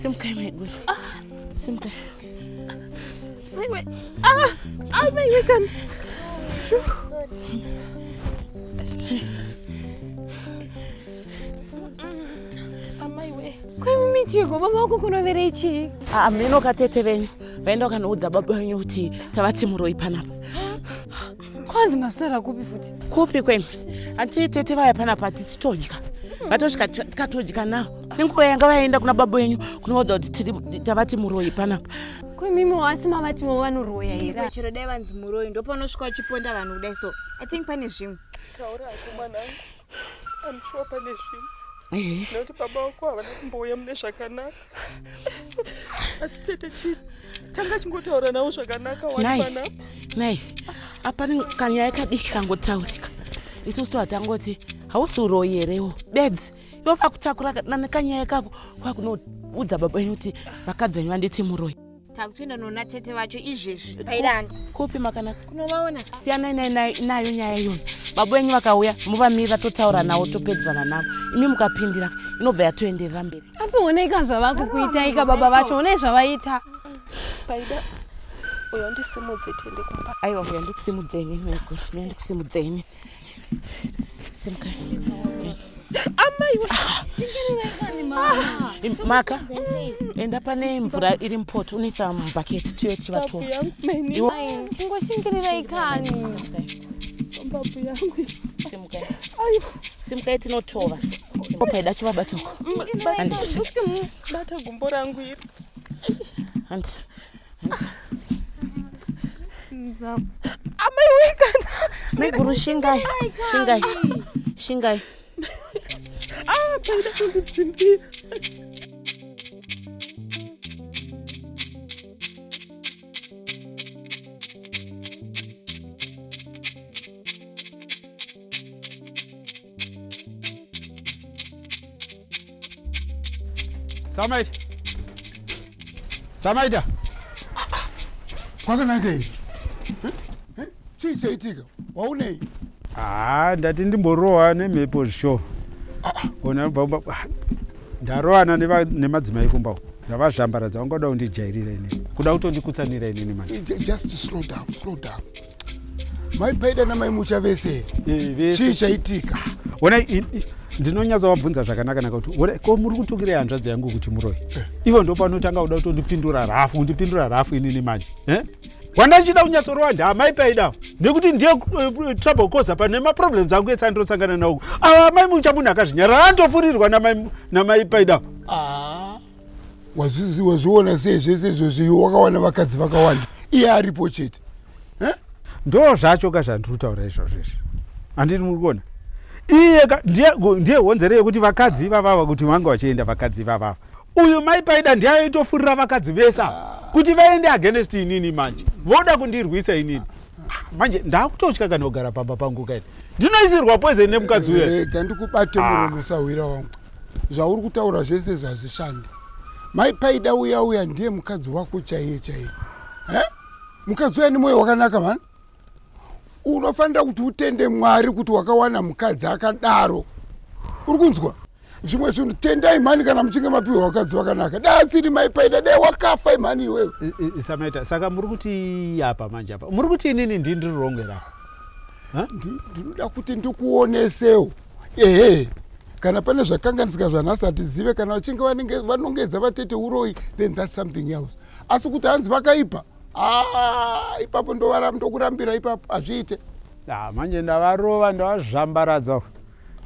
Simkai maiguru. Ah, simkai. Maiwe. Ah, ah maiwe kan. Sorry. amaiwe kwemimi chigo baba wako kunoverei chii hameno katete venyu vaenda wakanoudza baba venyu kuti tavati muroi panapa kwanzi maswera kupi futi kupi kwemi hanti tete vaya panapa tisitodya vatosvika tikatodya nawo nenguva yanga vaenda kuna baba venyu kunoudza kuti tavati muroi panapa kwemimi wasi mavatiwo vanoroya here chero dai vanzi muroi ndopanosvika uchiponda vanhu kudai so i think pane zvimwe taura hako mwanangu I'm sure pane zvimwe eh. nekuti baba wako havana kumbouya mune zvakanaka asi tete chii tanga chingotaura navo zvakanaka wanipanapa nai apani kanyaya kadiki kangotaurika isusu to hatangoti hausi uroyi herewo bedzi ivo vakutakura nekanyaya kako kwakunoudza baba enyu kuti vakadzi venyu vanditi muroyi takutoenda noona tete vacho izvezvi paidanzi kupi makanaka kunovaona siyanai nai- nai- nayo nyaya iyoyo baba venyu vakauya muvamirira totaura navo topedzerana navo imi mukapindira inobva yatoenderera mberi asi honeka zvavakukuitaika baba vacho honei zvavaita paida uyo ndisimudze tiende kumba aiwa huya ndikusimudzeni maiguru huya ndikusimudzeni maka enda pane mvura iri mupoto unoisa mubhaketi tiyo tichivatora chingoshingirirai kani babu yangu simukai simukai tinotova paida chivabata kuti mubata gumbo rangu iri amai wekanda maiguru shingai shingai shingai ah paida kundidzimbira Samaita. Samaita. Kwakanaka iyi. Chii chaitika? Waunei? Ah, ndati ndimborowa nemhepo zvisho. Ona baba ndarowana nemadzimai kumba uko. Ndavazvambaradza vangada kundijairira ini. Kuda kutondikutsanira ini manje. Just slow down, slow down. mai paida namai mucha vese eh, chii chaitika ona ndinonyatsa wabvunza zvakanaka naka kuti ona ko muri kutukirei hanzvadzi yangu kuti muroi eh. ivo ndo panotanga kuda kutondipindura rafu kundipindura rafu inini manje eh? wandachida kunyatsorowa ndiamai paida nekuti ndiye eh, trouble cosa pane maproblems angu ese andirosangana nawo ava amai mucha munhu akazvinyarara andofurirwa namai paida ah. wazviona sei zvese izvozvi wakawana vakadzi vakawanda iye aripo chete eh? ndo zvacho ka zvandiri kutaura izvozvo izvi handiti muri kuona iye ndiye honzero yekuti vakadzi ivavava kuti vanga vachienda vakadzi ivavava uyu mai paida ndiye aitofurira vakadzi vesa kuti vaende against inini manje voda kundirwisa inini manje ndakutotya kana kugara pamba pangu kaini ndinoisirwa poison nemukadzi uya rega ndikubate ah. muromo usahwira wangu zvauri kutaura zvese zvazvishanda mai paida uya uya ndiye mukadzi wako chaiye chaiye mukadzi uya nemwoyo wakanaka mani unofanira kuti utende mwari kuti wakawana mukadzi akadaro uri kunzwa zvimwe zvinhu tendai mhani kana muchinge mapiwa vakadzi vakanaka da asiri maipaida dai wakafa imhani iwewe isamaita saka muri kuti apa manje apa muri kuti inini ndi ndiri rongwe ra ndinoda kuti ndikuonesewo ehe kana pane zvakanganisika zvanhasi hatizive kana vachinge vanongedza vatete uroyi then thats something else asi kuti hanzi vakaipa ah, ipapo ndokurambira ipapo hazviite ah, manje ndavarova ndavazvambaradza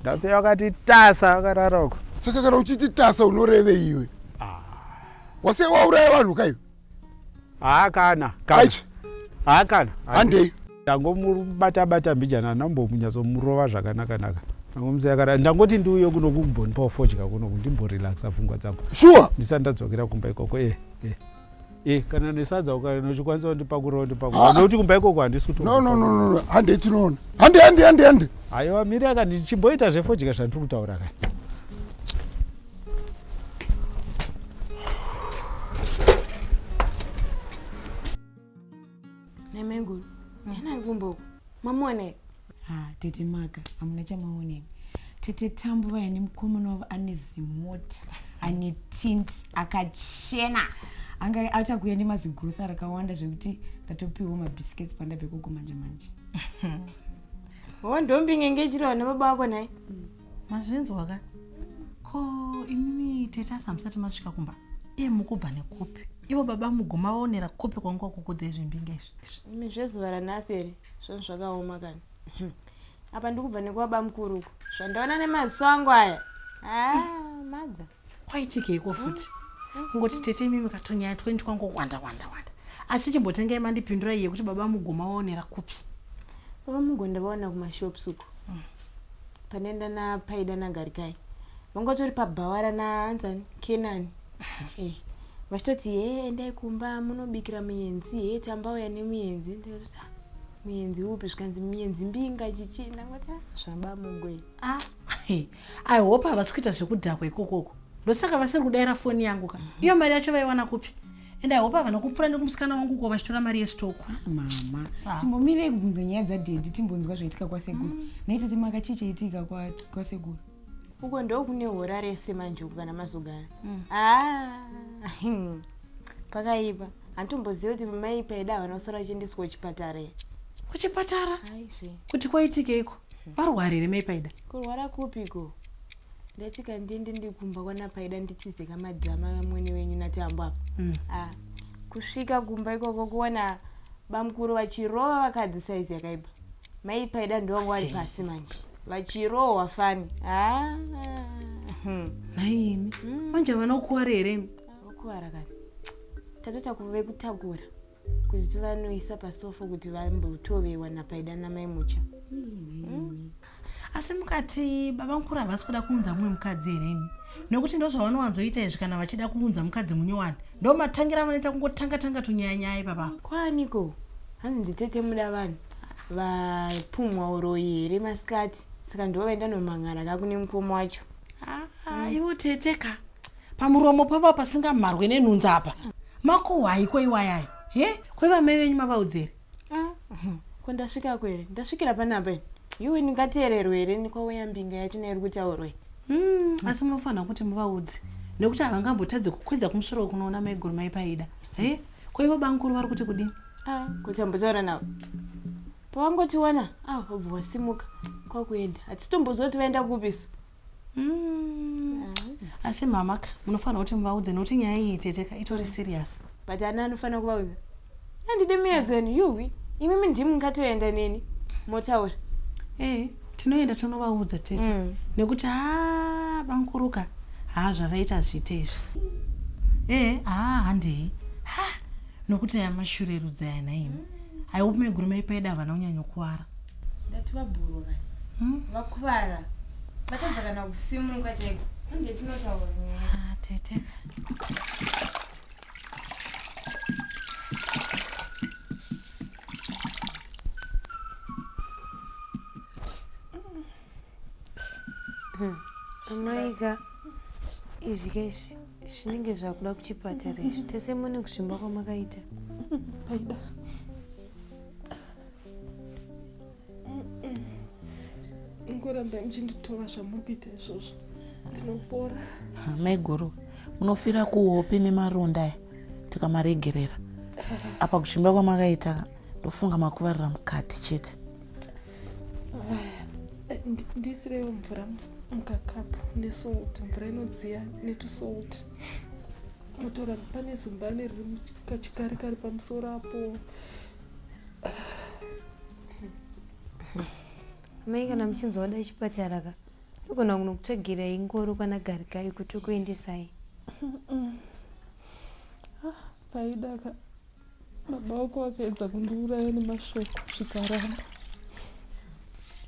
Dance wakati tasa akarara uko. Saka kana uchiti tasa unoreve iwe. Ah. Wase wauraya vanhu kayo. Ah kana. Kana. Ah kana. Handei. Ndangomubata bata mbijana nambomunyatso murova zvakanaka naka. Ndangomuzayakara ndangoti ndiuye kuno kumbonipa fodya kuno kundimborelaxa pfungwa dzangu. Sure. Ndisandadzokera kumba ikoko eh eh. Eh, kana nesadza ukaona uchikwanisa kundipakurira undipakurira Ah. nekuti kumba ikoko handisi kuti no no no no hande tinoona hande hande hande hande aiwa mira ka ndichimboita zvefodya zvandiri kutaura ka Nemenguru. Tena ngumbo. Mamone. Ah, tete Maka, amuna chamaone. Tete Tambu vaya nemukomana wavo ane zimota, ane tint, akachena. Anga achakuya nemazigrosa rakawanda zvekuti ndatopiwa mabiscuits pandabve koko manje manje. Hondombi ngenge chiro na baba wako naye. Mm. mazvinzwa ka ko imimi tete asi hamusati masvika kumba iye mukubva nekupi ivo baba muguma vaonera kupi kwanga kukudza izvimbinga izvi imi zvezuva ranhasi here zvinhu zvakaoma kani apa ndikubva nekuvaba mukuru uko zvandaona nemaziso angu aya ah, mother kwaitikeiko futi kungoti tete imimi katonyaya twendi twangowanda wanda wanda asi chimbotengai mandipindura iye kuti baba mugoma waonera kupi baba mugonda vaona kumashops uko mm. panenda napaida nagarikai vangotori pabhawara naanzani kenani eh, vachitoti he endai kumba munobikira muyenzi he tambauya nemuyenzi ndikati ah, muyenzi upi zvikanzi muyenzi mbinga chichii ndangoti ah, zvabamugoi ah, I hope havasi kuita zvekudhakwa ikokoko ndosaka vasiri kudaira foni yangu ka iyo mari yacho vaiwana kupi and i hope havana kupfura nekumusikana wangu uko vachitora mari yestoko ah, mama ah. timbomirei kubvunza nyaya dzadhedhi timbonzwa zvaitika kwasekuru mm. naite timaka chii chaitika kwasekuru uko ndo kune hora rese manje uku kana mazogara mm. ah, pakaipa handitomboziva kuti mai paida havana kusara vachiendeswa kuchipatara kuchipatara kuti kwaitikeiko Warwara here mai Paida? Kurwara kupiko? Ndati kandiende ndikumba kwana Paida nditize kamadrama vamwene venyu naTambo apa. Mm. Ah, kusvika kumba ikoko kuona bamukuru vachirova vakadzi saizi yakaipa. Mai Paida ndovangu vari pasi manje. Vachirohwa fani. Ah. Hmm. Naimi. Mm. Manje vanokuwara here? Vokuwara kani. Tatota kuve kutakura. kuti vanoisa pasofo kuti vambotovewa napaida namai mucha hmm? asi mukati baba mukuru havasi kuda kuunza mumwe mukadzi here imi nokuti ndozvavanowanzoita izvi kana vachida kuunza mukadzi munyowani ndo matangira vanoita kungotanga tanga tunyayanyaya ipapa kwaniko hanzi nditete muda vanhu vapumwa uroyi here masikati saka ndivo vaenda nomang'ara kakune mukoma wacho ah, ivo tete ka Pamuromo pava pasingamharwe nenhunza apa. Makuhwai ko iwayaya. He? Ko ivamai venyu mavaudzere? Ah, mhm. ko ndasvika kwere? Ndasvikira panapa ini. Yuwi ndingateererwe here nikwauya mbinga yacho neiri kutaurwa iyi? Mm, asi munofanira kuti muvaudze nekuti havangambotadze kukwidza kumusoro kunoona maiguru mai paida. He? Ko ivo bamukuru vari kuti kudini? Ah, kuti ambotaura navo. Pavangotiwana, ah, vobva vasimuka kwakuenda. Hatitombozoti vaenda kupi isu. mm. asi mama ka munofanira kuti muvaudze nokuti nyaya iyi teteka itori serious but ani anofanira kuvaudza andide miyedzoni yuwi imimi ndimi mungatoenda neni motaura e tinoenda tonovaudza tete mm. nekuti ha bankuruka ha zvavaita zvite izvi e ha handei ha nokuti aya mashurerudzi aya nhaimi mm. i hope meguru maipaida havana kunyanyokuvara ndati vabhuru ka hmm? vakuvara vatadza kana kusimuka chaiko ande tinotaura ah, tete hmm. amaiga izvi kaizvi zvinenge zvakuda kuchipatara izvi tese mune kuzvimba kwamakaita ngoramba muchinditova zvamuri kuita izvozvo ndinopora maiguru munofira kuhope nemaronda aya tikamaregerera apa kuchimba kwamakaita ndofunga makuvarira mukati chete ndisirewo mvura mukakapu nesalt mvura inodziya netusalt mutora pane zumbani riri kachikari kari pamusoro apo mai kana muchinzi wada chipatara ka ndogona kunokutsvagirai ngoro kana garikai kuti ukuendesai ah, paidaka baba wako vakaedza kundiuraya nemashoko zvikaramba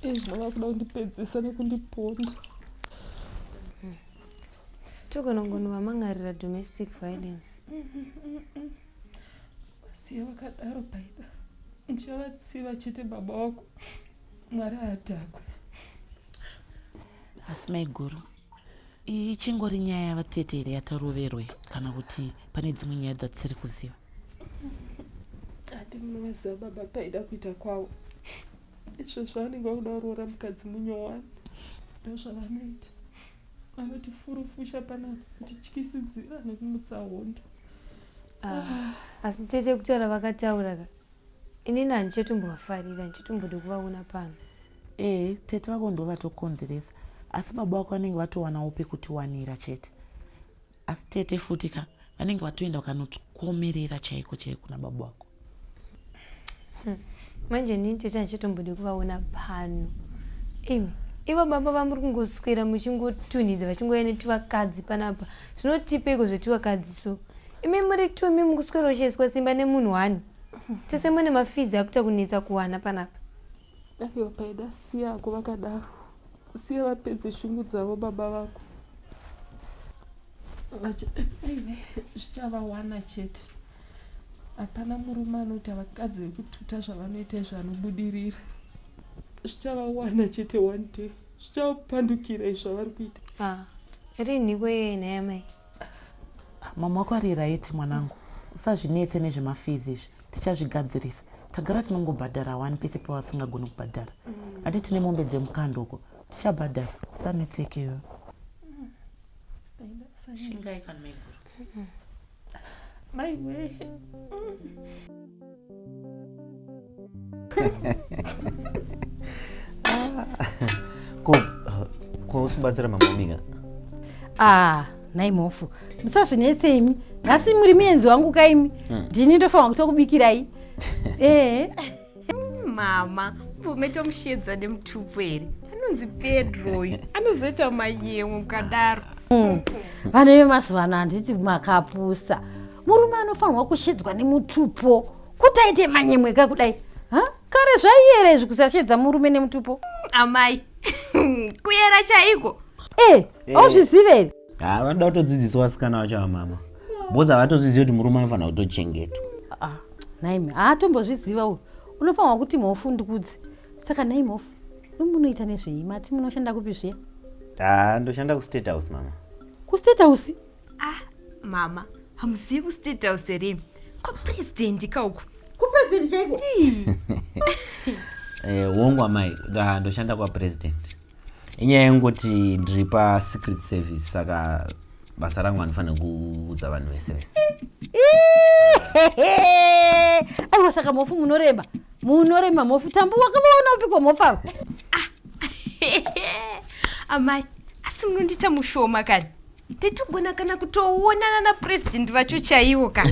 izvino vakuda kundipedzesa nekundiponda tokonongono vamangarira domestic violence Vasiye vakadaro paida. Ndichavatsiva chete baba wako. Mwari haadhakwe. Asi maiguru. Ichingori nyaya yavatete here yataroverwe kana kuti pane dzimwe nyaya dzatisiri kuziva? Hati munovaziva baba paida kuita kwavo. Izvo zvavanenge vakuda kuroora mukadzi munyowani. Ndozvavanoita anotifurufusha pana kutityisidzira nekumutsa hondo Ah, asi tete kutaura vakataura ka inini handichatombovafarira handichatombode kuvaona pano ee tete vako ndo vatokonzeresa asi baba vako vanenge vatowanawo pekutiwanira chete asi tete futi ka vanenge vatoenda vakanotikomerera chaiko chaiko nababa vako manje ini tete handichatombode kuvaona pano imi ivo baba vamuri kungoswera muchingotunhidza vachingouya netuvakadzi panapa zvinotipeiko zvetuvakadzi so imi muri tumi mukuswera uchiiswa simba nemunhu wani tese mune mafizi akuita kunetsa kuwana panapa aiwa paida siya ako vakadaro siya vapedze shungu dzavo baba vako zvichavawana chete Hapana murume anoti havakadzi vekututa zvavanoita izvo anobudirira. Zvichavawana chete one day. Zvichapandukira izvo avari kuita. Ah, rinhi kweye nhaya mai? Mama wako ari right mwanangu. Usazvinetse nezvemafizi izvi. Tichazvigadzirisa. Tagara tinongobhadhara wani pese pavasingagoni kubhadhara. Hati tine mombe dzemukando uko. Tichabhadhara. Usanetseke iwe. Shingai kana maiguru. maiwee ko ko usibatsira mama mika ah nhai mhofu musazvinetse imi nhasi muri muenzi wangu ka imi ndini ndofanira kutokubikirai ee Mm, mama mvume tomushedza nemutupo here anonzi pedro uyu anozoita mayemo mukadaro mm. vana vemazuva ano handiti makapusa murume anofanirwa kushedzwa nemutupo kuti aite manyemwe ka kudai kare zvaiyera izvi kusashedza murume nemutupo mm, amai kuyera chaiko e eh, auzvizive eh. haa ah, vanoda kutodzidziswa vasikana vacho vamama bhozi havatozizivi kuti murume anofanira kutochengetwa ah, ah, naime haatombozviziva uyu unofanirwa kuti mhofu ndikudzi saka nai mhofu imunoita nezvei mati munoshanda kupi zviya haa ndoshanda kustate house mama kustate house ah mama hamuzivi kustate house here kwapurezidendi kauku kwapurezidendi chaiko eh, wongu amai ndoshanda kwapurezidendi inyaya yengoti ndiri pasecret service saka basa rangu andifanira kuudza vanhu vese vese aiwa saka mhofu munorema munorema mhofu tambu wakavaona upiko mhofu ava amai asi munondiita mushoma kani titogona kana kutoonana napresident vacho chaiwo ka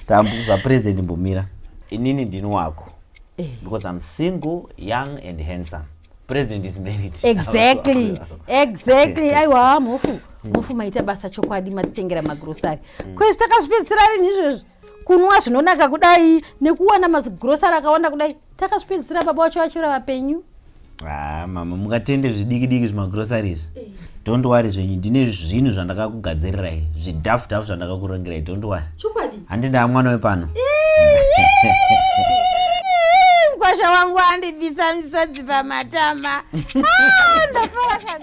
tambuza president mbumira inini ndini wako eh. because i'm single young and handsome president is married exactly exactly aiwa mhofu mhofu maita basa chokwadi matitengera magrosari mm. kwezvi takazvipedzisira rini izvezvi kunwa zvinonaka kudai nekuwana mazigrosari akawanda kudai takazvipedzisira baba wacho vachira vapenyu ah, mama mukatende zvidiki diki zvimagrosari izvi eh. don't worry zvenyu ndine zvinhu zvandakakugadzirirai zvidafu dafu zvandakakurongerai don't worry chokwadi handindaa mwana wepano mkwasha wangu andibvisa misodzi pamatama ah, ndafara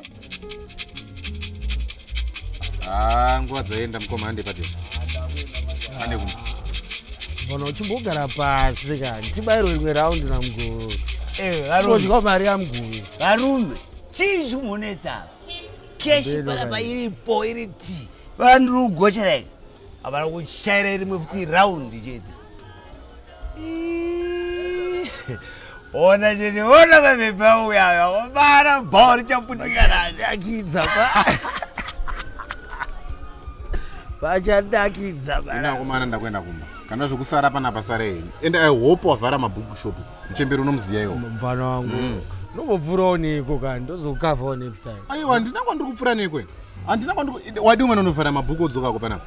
Ah, nguva dzaenda mukoma hande pati. Hande kumba. Bona uchimbogara pasi kani. Tibairwe rimwe round na mguru. Eh, varume. Kodya mari ya mguru. Varume. Chii chimunetsa apa? Cash Mbele panapa kani. iripo iri ti. Vandiri kugochera iri. Havana kushayira rimwe futi round chete. ona chete ona mapepa auya aya obara bhawa richaputika ranyakidza vachadakidza inakomana ndakuenda kumba kana zvekusara pana pasara henyu and i hope wavhara mabhuku shop muchemberi unomuziva iwo mfana wangu mm. nobopfurawo neiko kani ndozokukavhawo next time aiwa handina kwandiri kupfura neiko handina kwandiri wadi umwe nonofara mabhuku odzokako panapa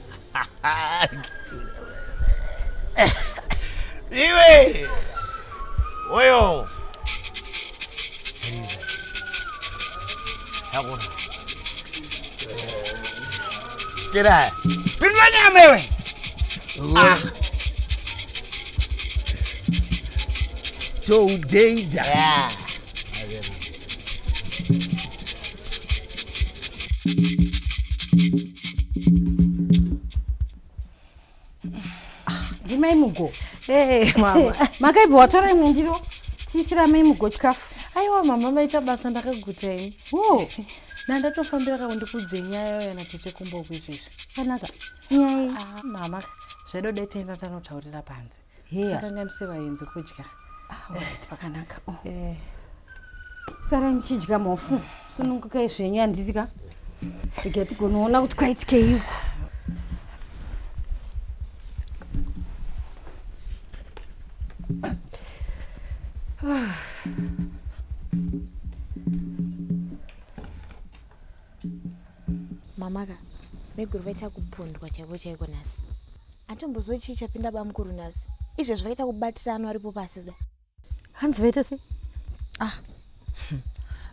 iwe oyo yakona kira pindula nyama iwe ah. toudeda yeah. ndimai mugo eh, mama makaibva watora imwe ndiro tiisira mai mugo chikafu aiwa mama maita basa ndakaguta ini oh. nandatofambira kako ndikudze nyaya yo yana tete kumboku izvezvi kanaka nyaya ah, mama zvedo detaina tanotaurira panze Musakanganise vaenzi kudya. Pakanaka. Oh. Eh. Sara muchidya mofu. Sunungukai zvenyu handiti ka? Iga tigonoona kuti kwaitikei uko. Ah. Mamaka, meguru vaita kupondwa chaivo chaiko nhasi. Atombozoi chii chapinda bamukuru nhasi. Izvezvi vaita kubatira ano aripo pasi da. Hanzi vaita sei? Ah.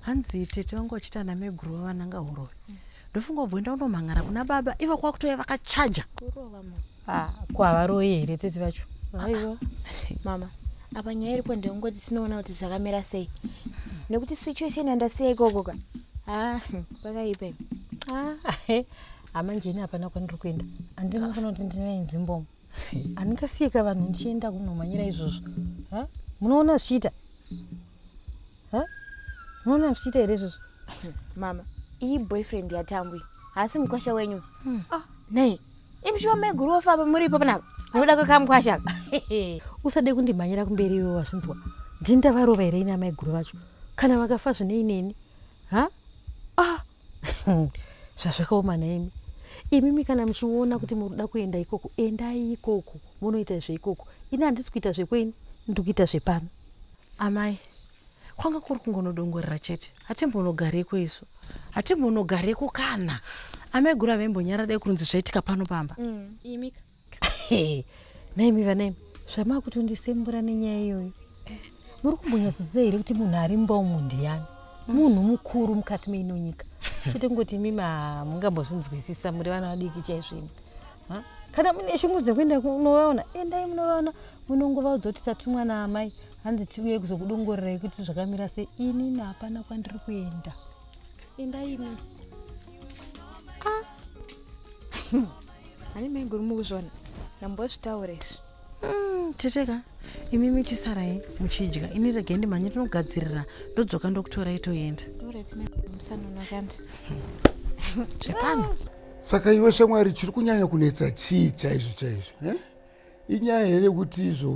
Hanzi tete vangu vachita ana meguru vavananga huroi. Mm. Ndofunga ubvo enda unomhan'ara kuna baba ivo kwakutoya vakachaja. Kurova mama. Ah, kwavaroi here tete vacho? Aiwa. Mama, apa nyaya iripo ndeyongoti tinoona kuti zvakamira sei. Nekuti situation yandasiya ikoko ka. Ah, pakaipa. Ah, hama njeni hapana kwandiri kuenda handina kana kuti ndinoenzi mbomo handingasiyeka vanhu ndichienda kunomhanyira izvozvo munoona zvichiita munoona zvichiita here izvozvo mama iyi boyfriend yatambwi haasi mukwasha wenyu hmm. ah, nei imushuwa maiguru wofamba muripo panapa nokuda kwekamkwasha usade kundimhanyira kumberi iwe wazvinzwa ndindavarova here ini amaiguru vacho kana vakafa zvinei neni ha ah zvazvakaoma nhaimi imimi kana muchiona kuti muri kuda kuenda ikoko endai ikoko munoita zveikoko ini handisi kuita zvekwenyu ndiri kuita zvepano amai kwanga kuri kungonodongorera chete hatimbonogareko isu hatimbonogareko kana amaiguru avembonyara dai kurunzi zvaitika pano pamba mm, imika naimi vanaimi zvamaakutondisembura nenyaya iyoyo muri kumbonyatsoziva here kuti munhu ari mumba umu ndiyani munhu mukuru mukati meino nyika chete kungoti imimi hamungambozvinzwisisa muri vana vadiki chaizvoimi kana mune shungu dzekuenda unovaona endai eh, munovaona munongovaudza kuti tatumwa naamai hanzi tiuye kuzokudongorerai kuti zvakamira se inini hapana kwandiri kuenda endai ini ah. Ani maiguru mukuzvona ndambozvitaura izvi mm, teteka imi michisarai muchidya ini regai ndimhanye tinogadzirira ndodzoka ndokutora itoenda zvepano saka iwe shamwari chiri kunyanya kunetsa chii chaizvo chaizvo eh? inyaya here kuti izvo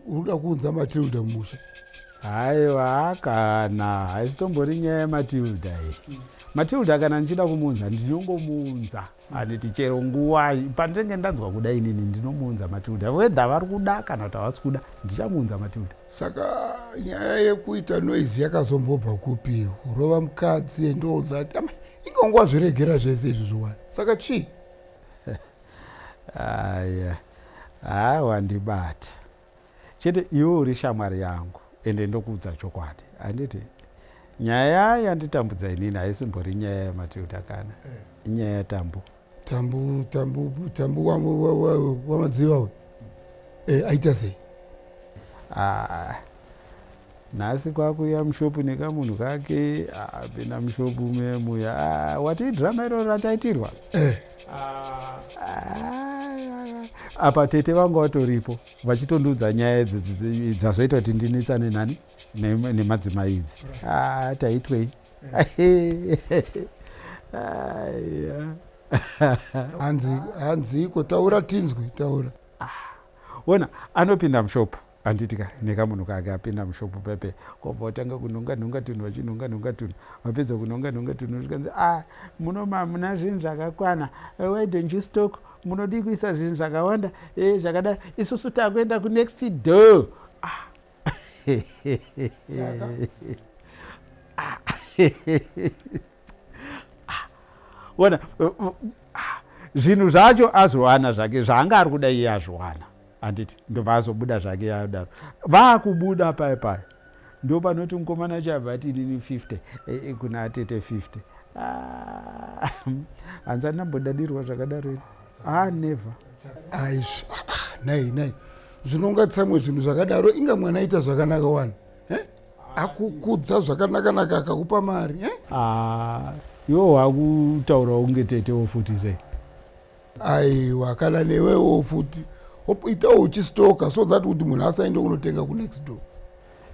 uruda kuunza matilda mumusha haiwa kana haisitombori nyaya yematilda iyi mm. matilda kana ndichida kumuunza ndinongomuunza mm. anditi chero nguvai pandenge ndanzwa kuda inini ndinomuunza matilda wedha vari kuda kana kuti havasi kuda ndichamuunza matilda saka nyaya yekuita noizi yakazombobva kupi urova mukadzi endounza ati inga nguva zviregera zvese izvi zviwani saka chii Aya haa wandibata chete iwe uri shamwari yangu ende ndokuudza chokwadi handiti nyaya yanditambudza inini haisimbori nyaya yamatilda kana inyaya yatambu tambu tambu tambu wamadziva uyu eh, aita sei ah. Nhasi kwakuuya mushop nekamunhu kake ah, apinda mushop ume muya ah, watii drama iroro rataitirwa eh. ah, apa tete vanga vatoripo vachitondiudza nyaya idzi dzazoita kuti ndinetsane nani nemadzimai idzi ah, taitwei hanzi hanzi iko taura tinzwi taura ah, ona anopinda mushopu Handiti ka nekamunhu kake apinda mushop pepe kobva otanga kunhonga nhonga tunhu vachinhonga nhonga tunhu vapedza kunhonga nhonga tunhu zvikanzi ah muno mamuna zvinhu zvakakwana eh, why don't you stock munodii kuisa zvinhu zvakawanda eh, zvakadai isusu takuenda kunext door ah. ona zvinhu zvacho azviwana zvake zvaanga ari kuda iye azviwana handiti ndobva azobuda zvake yadaro vaakubuda paye paye ndo panoti mukomana wacho abva ati inini 50 eh, eh, kuna atete 50 ah, hanzi andambodadirwa zvakadaro ini ah never aizvi ah, ah, nai nai zvinonga tsamwe zvinhu zvakadaro inga mwana aita zvakanaka wani eh? akukudza zvakanakanaka akakupa mari eh? ah, iwo wakutaurawo kunge tetewo futi sei aiwa kana newewo futi itawo uchistoka so that kuti munhu asaende kunotenga kunext door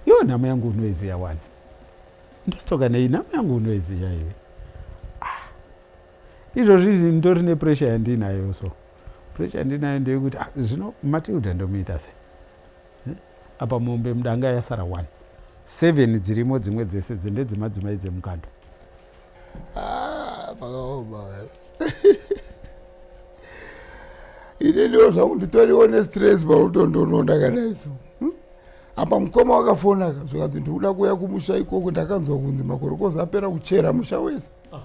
yo nhamo yangu unoiziya wani ndostoka nei nhamo yangu unoiziya iwe ah. izvozvi ndori nepressure yandinayo so pressure yandinayo ndeyekuti ah, zvino matilda ndomuita se eh? apa mombe mudanga yasara one seven dzirimo dzimwe dzese dzendedzemadzimai dzemukando Ah, pakaoma ini ndiwo zvangu nditoriwo nestress pautondononda kadaiso hmm? apa mukoma wakafonaka zvikanzi ndikuda kuuya kumusha ikoko ndakanzwa kunzi makorokoza apera kuchera musha wese ah.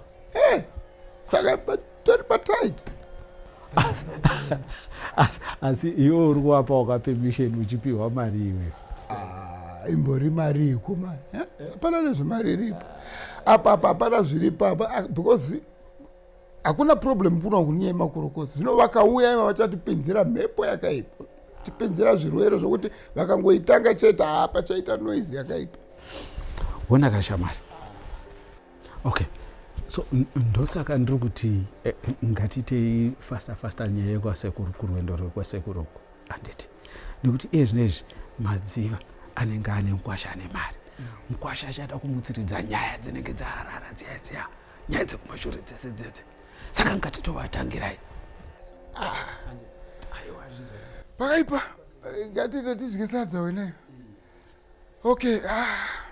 eh, saka tiri patight asi iwe uri kuwapa waka permission uchipiwa mari iwe ah, imbori mari ikuma eh? hapana nezvemari iripo apa apa hapana zviripo apa ah, because hakuna problem kuna kunyaya makorokosi zvino vakauya iva vachatipinzira mhepo yakaipa tipinzira zvirwere zvokuti vakangoitanga chete hapa chaita noise yakaipa wona kashamari okay so ndosaka ndiri kuti eh, ngatiitei fasta fasta nyaya yekwasekuru kurwendo rwekwasekuru uku handiti nekuti iye zvino izvi madziva anenge ane mukwasha ane mari mukwasha achada kumutsiridza nyaya dzinenge dzaharara dziya dziya nyaya dzekumashure dzese dzese saka ngatitovatangirai ah, pakaipa eh, ngatitotidyisa dzaweneyo okay ah.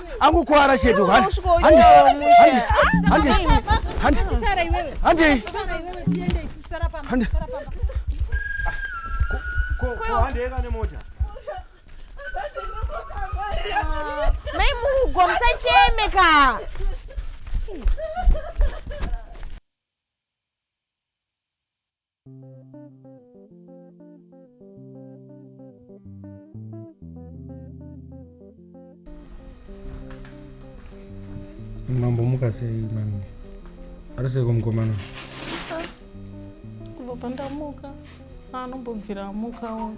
angokuvara chete handei mai mugo musacheme ka Mambo muka sei mami? Ari seiko mukomana? Kubva pandamuka anombobvira amukawo.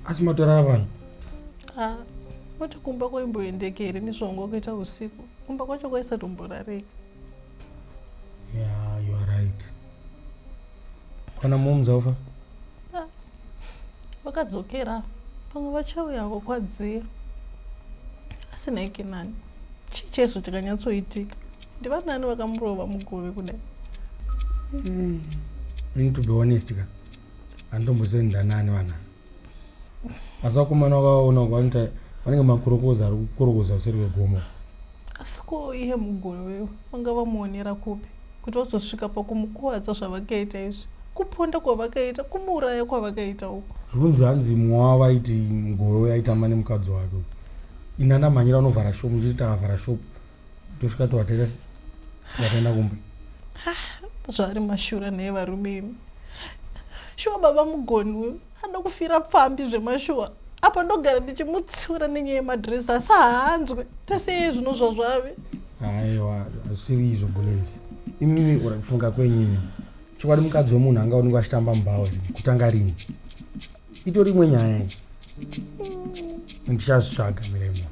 Asi matorara vanhu? Ah, moti kumba kwaimboendeka here mizvongo kuita usiku? Kumba kwacho kwaisatomborarika. Yeah, you are right. Kana mom zaufa? Ah, vakadzokera pamwe vachauya kokwadzia asi naike nani chii chaizvo chakanyatsoitika ndivanani vakamurova mugove kudai mm. need to be honest ka handitombosendi ndanani vanani asi vakomana vakaona vanoita vanenge makorokoza ari kukorokoza kuseri kwegomo asi ko iye muguru uyu vanga vamuonera kupi kuti vazosvika pakumukuvadza zvavakaita izvi kuponda kwavakaita kumuuraya kwavakaita uku zvinonzi hanzi mumwe wavo vaiti mugove uyo aitamba nemukadzi wake inana mhanyira vanovhara shopu ndichiti takavhara shopu tosvika tovatera se vatenda kumba zvaari mashura naye varume imi shuwa baba mugoni anoda kufira pfambi zvemashuwa apa ndogara ndichimutsiura nenyaya yemadresi asi haanzwe teseye zvino zvazvave aiwa zvisiri izvo bulezi imimi uri kufunga kwenyini chokwadi mukadzi wemunhu anga unenge achitamba mubhawa kutanga rini itori imwe nyaya iyi ndichazvitsvaga miremo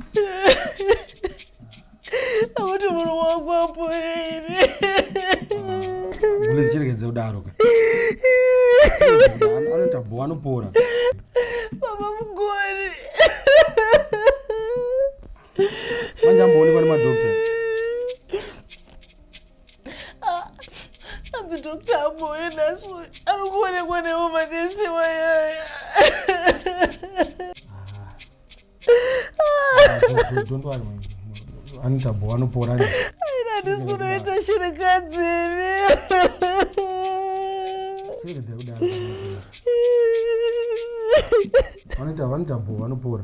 akuti munhu wangu aporeire mune zichirekedze kudaro ka anoita bho anopora baba mugori manje amboonekwa nemadokta hanzi ah, dr amboyo nhasi ari kuonekwa nevo manesi wayaya anoita bho anopora aina handisi kunoita shirikadzini shirikadzai kudaro vanoita vanoita bho vanopora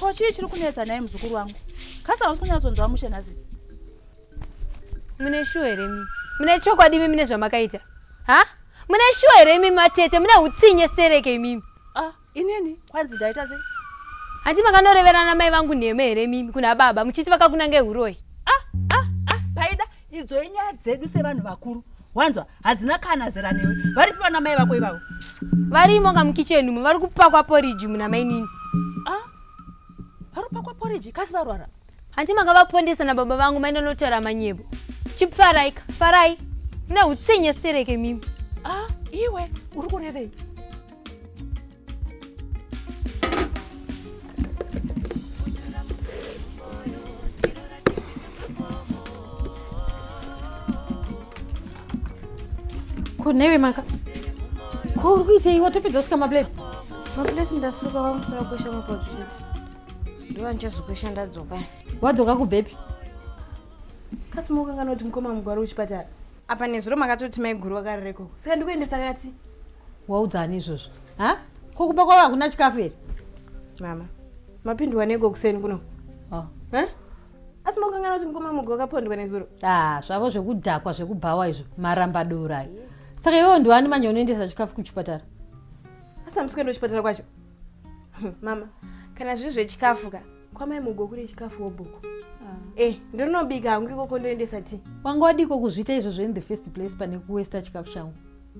ko chii chiri kunetsa naye muzukuru wangu kasa hausi kunyatsonzwa mushe nhasi mune shuwa here mi mune chokwadi imi mine zvamakaita ha mune shuwa here imi matete mune utsinye stereke imimi ah, inini kwanzi ndaita sei hanti makanoreverana mai vangu nheme here mimi kuna baba muchiti vakakunange uroyi idzo inyaya dzedu sevanhu vakuru wanzwa hadzina kana zera newe varipi vana mai vako ivavo varimo ka mukicheni umo vari kupakwa poriji muna mainini ah, vari kupakwa poriji kasi varwara hanti makavapondesa nababa vangu maenda notaura manyevo chipfaraika farai neutsinye stereke mimi ah, iwe uri kurevei ko newe maka ko uri kuitei watopedza kusika maplates maplates ndasuka vamusara kukwesha mapoto chete ndiwa ndichazokwesha ndadzoka wadzoka kubvepi kasi mokangana kuti mukoma mugwaro wechipatara apa nezuro makatoti maiguru vakarereko saka ndikuendesa kati waudza ani izvozvo ha ko kumba kwavo hakuna chikafu here mama mapindwa neko kuseni kuno oh. huh? asi mokangana kuti mukoma mugo wakapondwa nezuro ah, zvavo zvekudhakwa zvekubhawa izvo maramba dora saka iwewo ndiwani manje unoendesa chikafu kuchipatara asi hamusi kuenda kuchipatara kwacho mama kana zviri zvechikafu ka kwamai mugo kune chikafu wobhuku ah. eh ndonobika hangu ikoko ndoendesa ti wanga wadiko kuzviita izvozvo in the first place pane kuwesta chikafu changu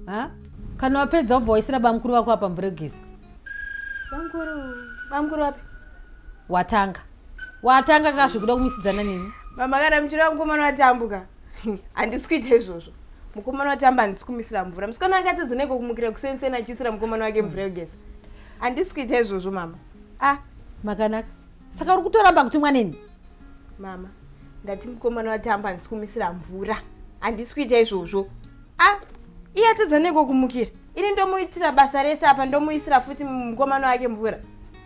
ha kana wapedza wobva waisira bamukuru vako apa mvura yogeza bamukuru bamukuru wapi watanga watanga ka zvekuda kumisidzana neni mama kana muchira mukomana watambuka handisi kuita izvozvo mukomana watamba handisi kumisira mvura musikana wake atadza neiko kumukira kusensena achiisira mukomana wake mvura yogeza handisi kuita izvozvo mama ah makanaka saka uri kutoramba kutumwa neni mama ndati mukomana watamba handisi kumisira mvura handisi kuita izvozvo ah iye atadza neko kumukira ini ndomuitira basa rese apa ndomuisira futi mukomana wake mvura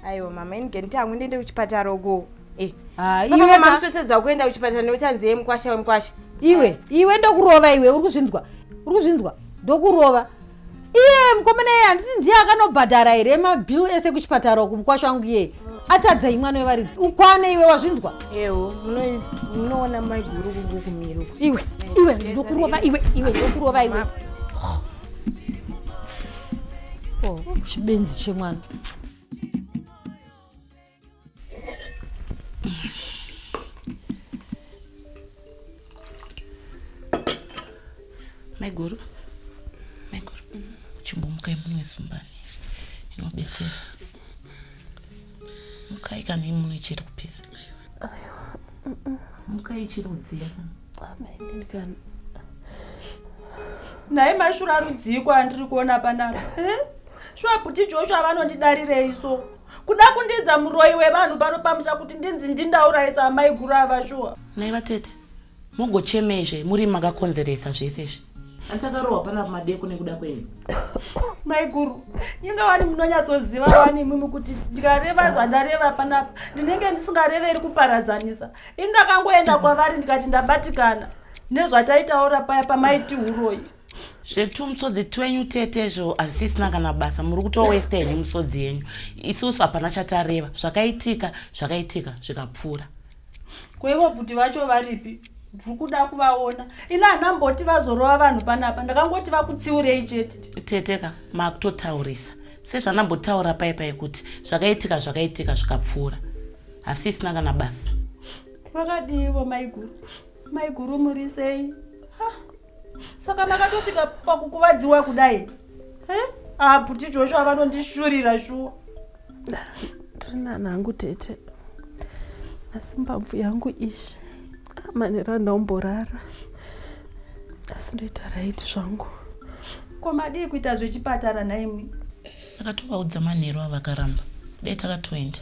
aiwa mama ini genti yangu ndiende kuchipatara uko eh. Ah, iwe ka- makusvotedza kuenda kuchipatara neuchanzi ye mukwasha wemukwasha iwe iwe ndokurova iwe uri kuzvinzwa uri kuzvinzwa ndokurova iye mukomana iye handisi ndiye akanobhadhara here mabill ese kuchipatara uku mukwasha wangu iye atadza imwana wevaridzi ukwane iwe wazvinzwa ewo munoona maiguru kungu kumiro iwe iwe ndinokurova iwe iwe ndinokurova iwe oh, chibenzi chemwana maiguru maiguru chimbomukai mumwe zumbani inobetsera mukai kana imune chiri kupisa mukai chiri kudziya nhai mashura rudziiko andiri kuona panapa eh? shuwa bhuti joshua vanondidarirei so kuda kundiidza muroyi wevanhu pano pamusha kuti ndinzi ndindaurayisa amai guru ava shuwa mai vatete mogochemezve muri makakonzeresa zvese izvi atakarohwa pana madeko nekuda kwenyu mai guru inga wani munonyatsoziva wani imimi kuti ndikareva zvandareva panapa ndinenge ndisingareveri kuparadzanisa ini ndakangoenda kwavari ndikati ndabatikana nezvataitaura paya pamaiti uroyi zvetumusodzi twenyu tete izvo hazvisisina kana basa muri kutowesta henyu musodzi yenyu isusu hapana chatareva zvakaitika zvakaitika zvikapfuura kwaivo kuti vacho varipi ndiri kuda kuvaona ini hanamboti vazorova vanhu panapa ndakangoti vakutsiurei chete teteka makutotaurisa sezvanambotaura pai pai kuti zvakaitika zvakaitika zvikapfuura hasisina kana basa vakadiivo maiguru maiguru murisei saka makatosvika pakukuvadziwa kudai ah bhuti joshua vanondishurira shuwa ndinana hangu tete asi mbabvu yangu ishi amanera ah, ndaomborara asi ndoita raiti zvangu ko madii kuita zvechipatara nhaimi Takatovaudza manheru ava vakaramba. Dai takatoenda.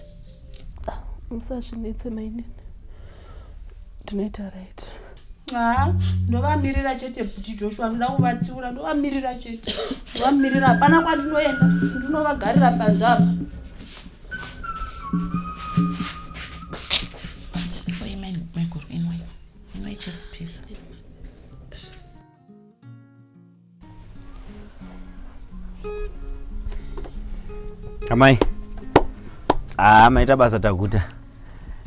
Ah, musazvinetse mainini. Ndinoita right. Ah, ndovamirira chete kuti Joshua ndoda kuvatsiura ndovamirira chete. Ndovamirira hapana kwandinoenda. Ndinovagarira panze apa. amai haa ah, maita basa taguta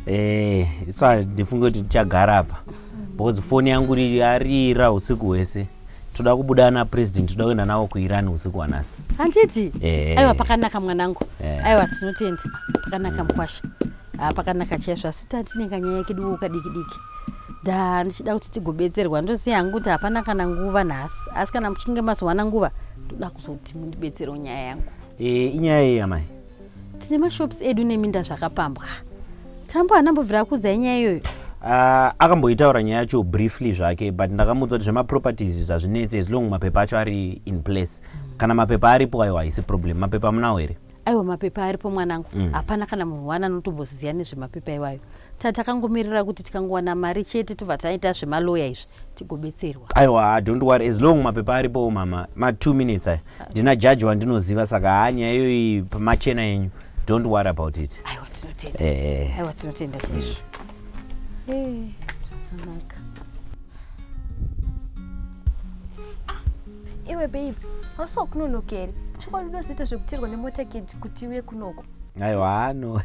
eh, isa ndifunge kuti tichagara apa because foni yangu yarira usiku hwese toda kubuda ana president toda kuenda navo kuiran usiku wanasi handiti eh. aiwa pakanaka mwanangu eh. aiwa tinotenda pakanaka mkwasha ah, pakanaka chaizvo asi tatinenganyaya kedu ukadikidiki Ndaa ndichida kuti tigobetserwa ndoziva hangu kuti hapana kana nguva nhasi asi kana muchinge mazowana nguva ndoda kuzoti mundibetserewo nyaya yangu e, inyaya yei amai tine mashops edu neminda zvakapambwa tambo anambobvira kuudzai nyaya iyoyo uh, akamboitaura nyaya yacho briefly zvake but ndakamuudza kuti zvemaproperties zvazvinetse as long mapepa acho ari in place kana mapepa aripo ayo haisi problem mapepa munawo here aiwa mapepa aripo mwanangu mm. hapana mm. kana munhu wani anotomboziva nezvemapepa iwayo tatakangomirira kuti tikangowana mari chete tobva taita zvemaloya izvi tigobetserwa aiwa don't worry as long mapepa aripo mama ma two minutes aya ah, ndina jaji wandinoziva saka haa nyaya iyoyi pamachena yenyu don't worry about it aiwa tinotenda eh. aiwa tinotenda chaizvo mm. Hey, zvakanaka. Ah, iwe babe, hausi wakunonokeri. Chokwadi unozoita zvekutirwa nemota kid kuti uye kunoko. Aiwa hano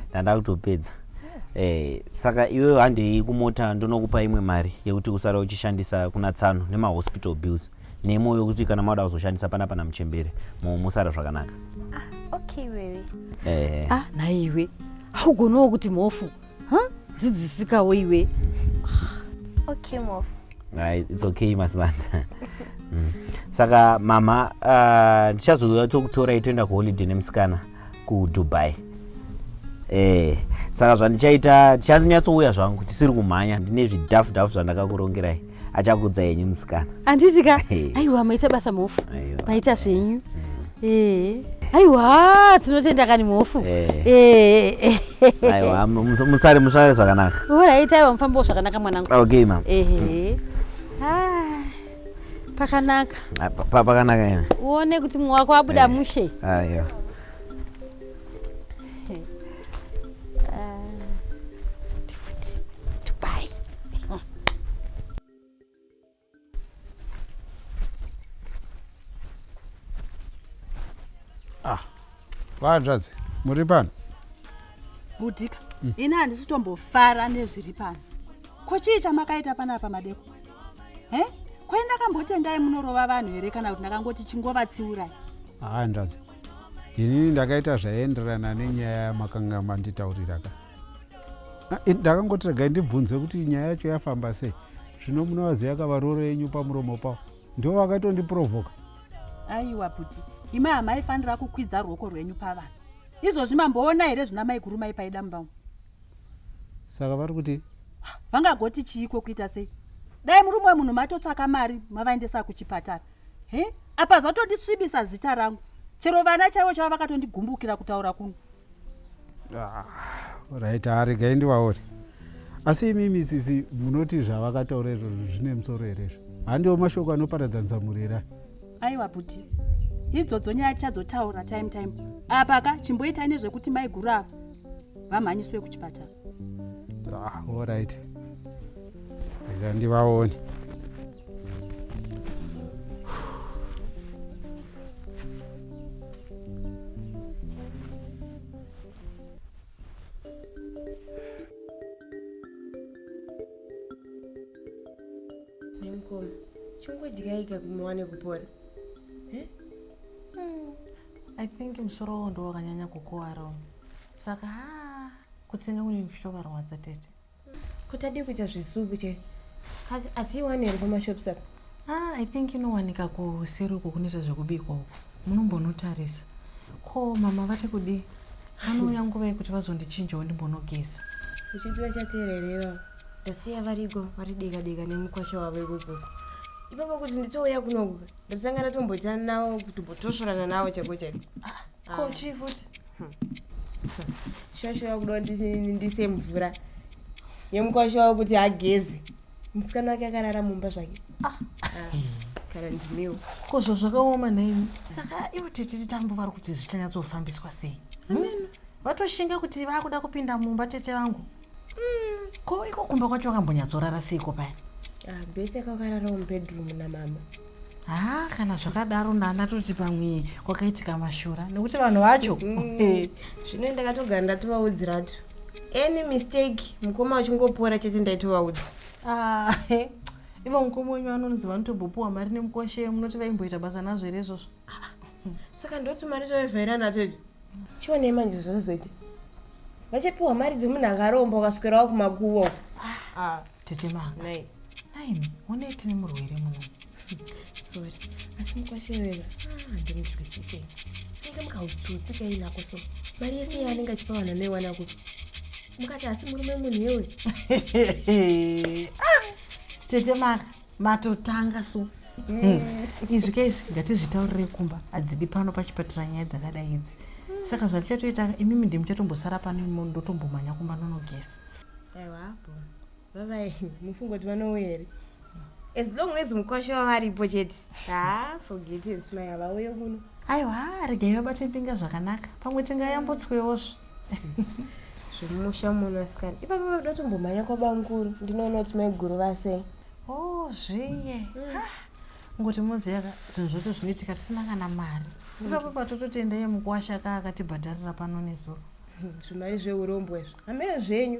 ndanda kutopedza. Eh, saka iwewe handei kumota ndonokupa imwe mari yekuti usare uchishandisa kuna tsano nemahospital bills. Nemo yokuti kana mauda kuzoshandisa panapa namuchembere musara zvakanaka. Ah, okay wewe. Eh. Ah, naiwe. Haugonawo kuti mhofu. Ha? Huh? Dzidzisikawo iwe. Okay mhofu. Ah, it's okay masibanda. Mm. Saka mama ah, ndichazouya uh, tokutorai toenda kuholiday nemusikana. kudubai eh saka zvandichaita tichanyatsovuya zvangu tisiri kumhanya ndine zvidhafu dhafu zvandakakurongerai achakudza henyu musikana handiti ka aiwa maita basa mhofu maita zvenyu eh. aiwa tinotenda kani mhofu eh. eh. aiwa musare musare zvakanaka orit aiwa mufambawo zvakanaka mwanangu okay mam ehe ah. pakanaka Ah, pa- pa- pakanaka ina uone kuti mumwe wako abuda mushe aiwa ndifuti dubai vahanzvadzi muri pano budika ini handisi tombofara nezviri pano ko chii chamakaita panapa madeko he kwai ndakambotendai munorova vanhu here kana kuti ndakangoti chingovatsiurai handazi inini ndakaita zvaienderana nenyaya yamakanga manditaurira ka ah, ndakangoti regai ndibvunze kuti nyaya yacho yafamba sei zvino munovaziva kavaroro yenyu pamuromo pavo ndo vakatondiprovoka aiwa buti imi hamaifanira kukwidza ruoko rwenyu pavanhu izvozvi mamboona here zvina maigurumai paida mumba umu saka vari kuti vangagoti chiiko kuita sei dai murume wemunhu matotsvaka mari mavaendesa kuchipatara he apa zvatondisvibisa zita rangu chero vana chaivo chava vakatondigumbukira kutaura kuno ah, right aregai ah, ndivaone asi imimi sisi munoti zvavakataura izvozvo zvine musoro here izvo handiwo mashoko anoparadzanisa mhuri here aiwa bhuti idzodzo nyaya tichadzotaura time time apa ka chimboitai nezvekuti maiguru ava vamhanyiswe kuchipatara ah, orit rega ndivaone nemukoma chongodyaika kumuwane kupora eh? hmm. i think musoro wo ndo wakanyanya kukuvara uno saka ha kutsenga kune kuchitovarwadza tete kuti adii kuita zvesuku che asi atiiwani here pamashops apa ah, i think inowanika kuseri uko kunoita zvekubikwa uko munombonotarisa ko mama vati kudii vanouya nguva yekuti vazondichinjawo ndimbonogeza uchiti vachateerereva ndasiya variko vari dika dika nemukwasha wavo ikoko ipapo kuti nditouya kunoku ndotanga ndatomboitana navo kutombotosvorana navo chaiko chaiko ah, ah. ko chii futi hmm. shosho yakuda ndise mvura yemukwasha wavo kuti ageze musikana wake akarara mumba zvake ah. kana ndimiwo ko zvo zvakaoma nhaimi saka ivo tititi tambo vari kuti zvichanyatsoofambiswa sei vatoshinga kuti vakuda kupinda mumba tete vangu Mm, ko iko kumba kwacho wakambonyatsorara seiko paya? Ah, bete kakarara mubedroom namama. Ah, kana zvakadaro ndana toti pamwe kwakaitika mashura nekuti vanhu vacho. Mm. Zvino ndakatogara ndatovaudziratu. Any mistake mukoma uchingopora chete ndaitovaudza. Ah, ivo mukoma wenyu vanonzi vanotobopuwa mari nemukwashe munoti vaimboita basa nazvo here izvozvo? Ah, saka ndoti mari toivhaira nato idzo. chionei manje zvinozoita vachapiwa mari dzemunhu akaromba ukaswerawo kumakuva ah, tete manga nine onei tine murwere muno sorry asi mukwashevera ah, ndimudzwisise anenge mukautsutsi kainako so mari yese yaanenge achipa vanhu anoiwana kupi mukati asi murume munhu yewe ah, tete manga matotanga so mm. izvi ke izvi ngatizvitaurire kumba hadzidi pano pachipatira nyaya dzakadai idzi saka zvatichatoita imimi ndi muchatombosara pano ndotombomhanya kumba nonogesa aiwapo vavai mufungo kuti vanouya here as long as mukwasha wavaripo chete ha forget smai havauye kuno aiwa regai vabate mbinga zvakanaka pamwe tingayambotswewo zvo zvemusha muno asikana ipapo vanoda kutombomhanya kwabanguru ndinoona kuti maiguru vasei o oh, zviye ngoti muziva ka zvinhu zvoto zvinoitika tisina kana mari ipapo patototenda yemukuwasha ka akatibhadharira pano nezuro zvimari zveurombwa izvo hameno zvenyu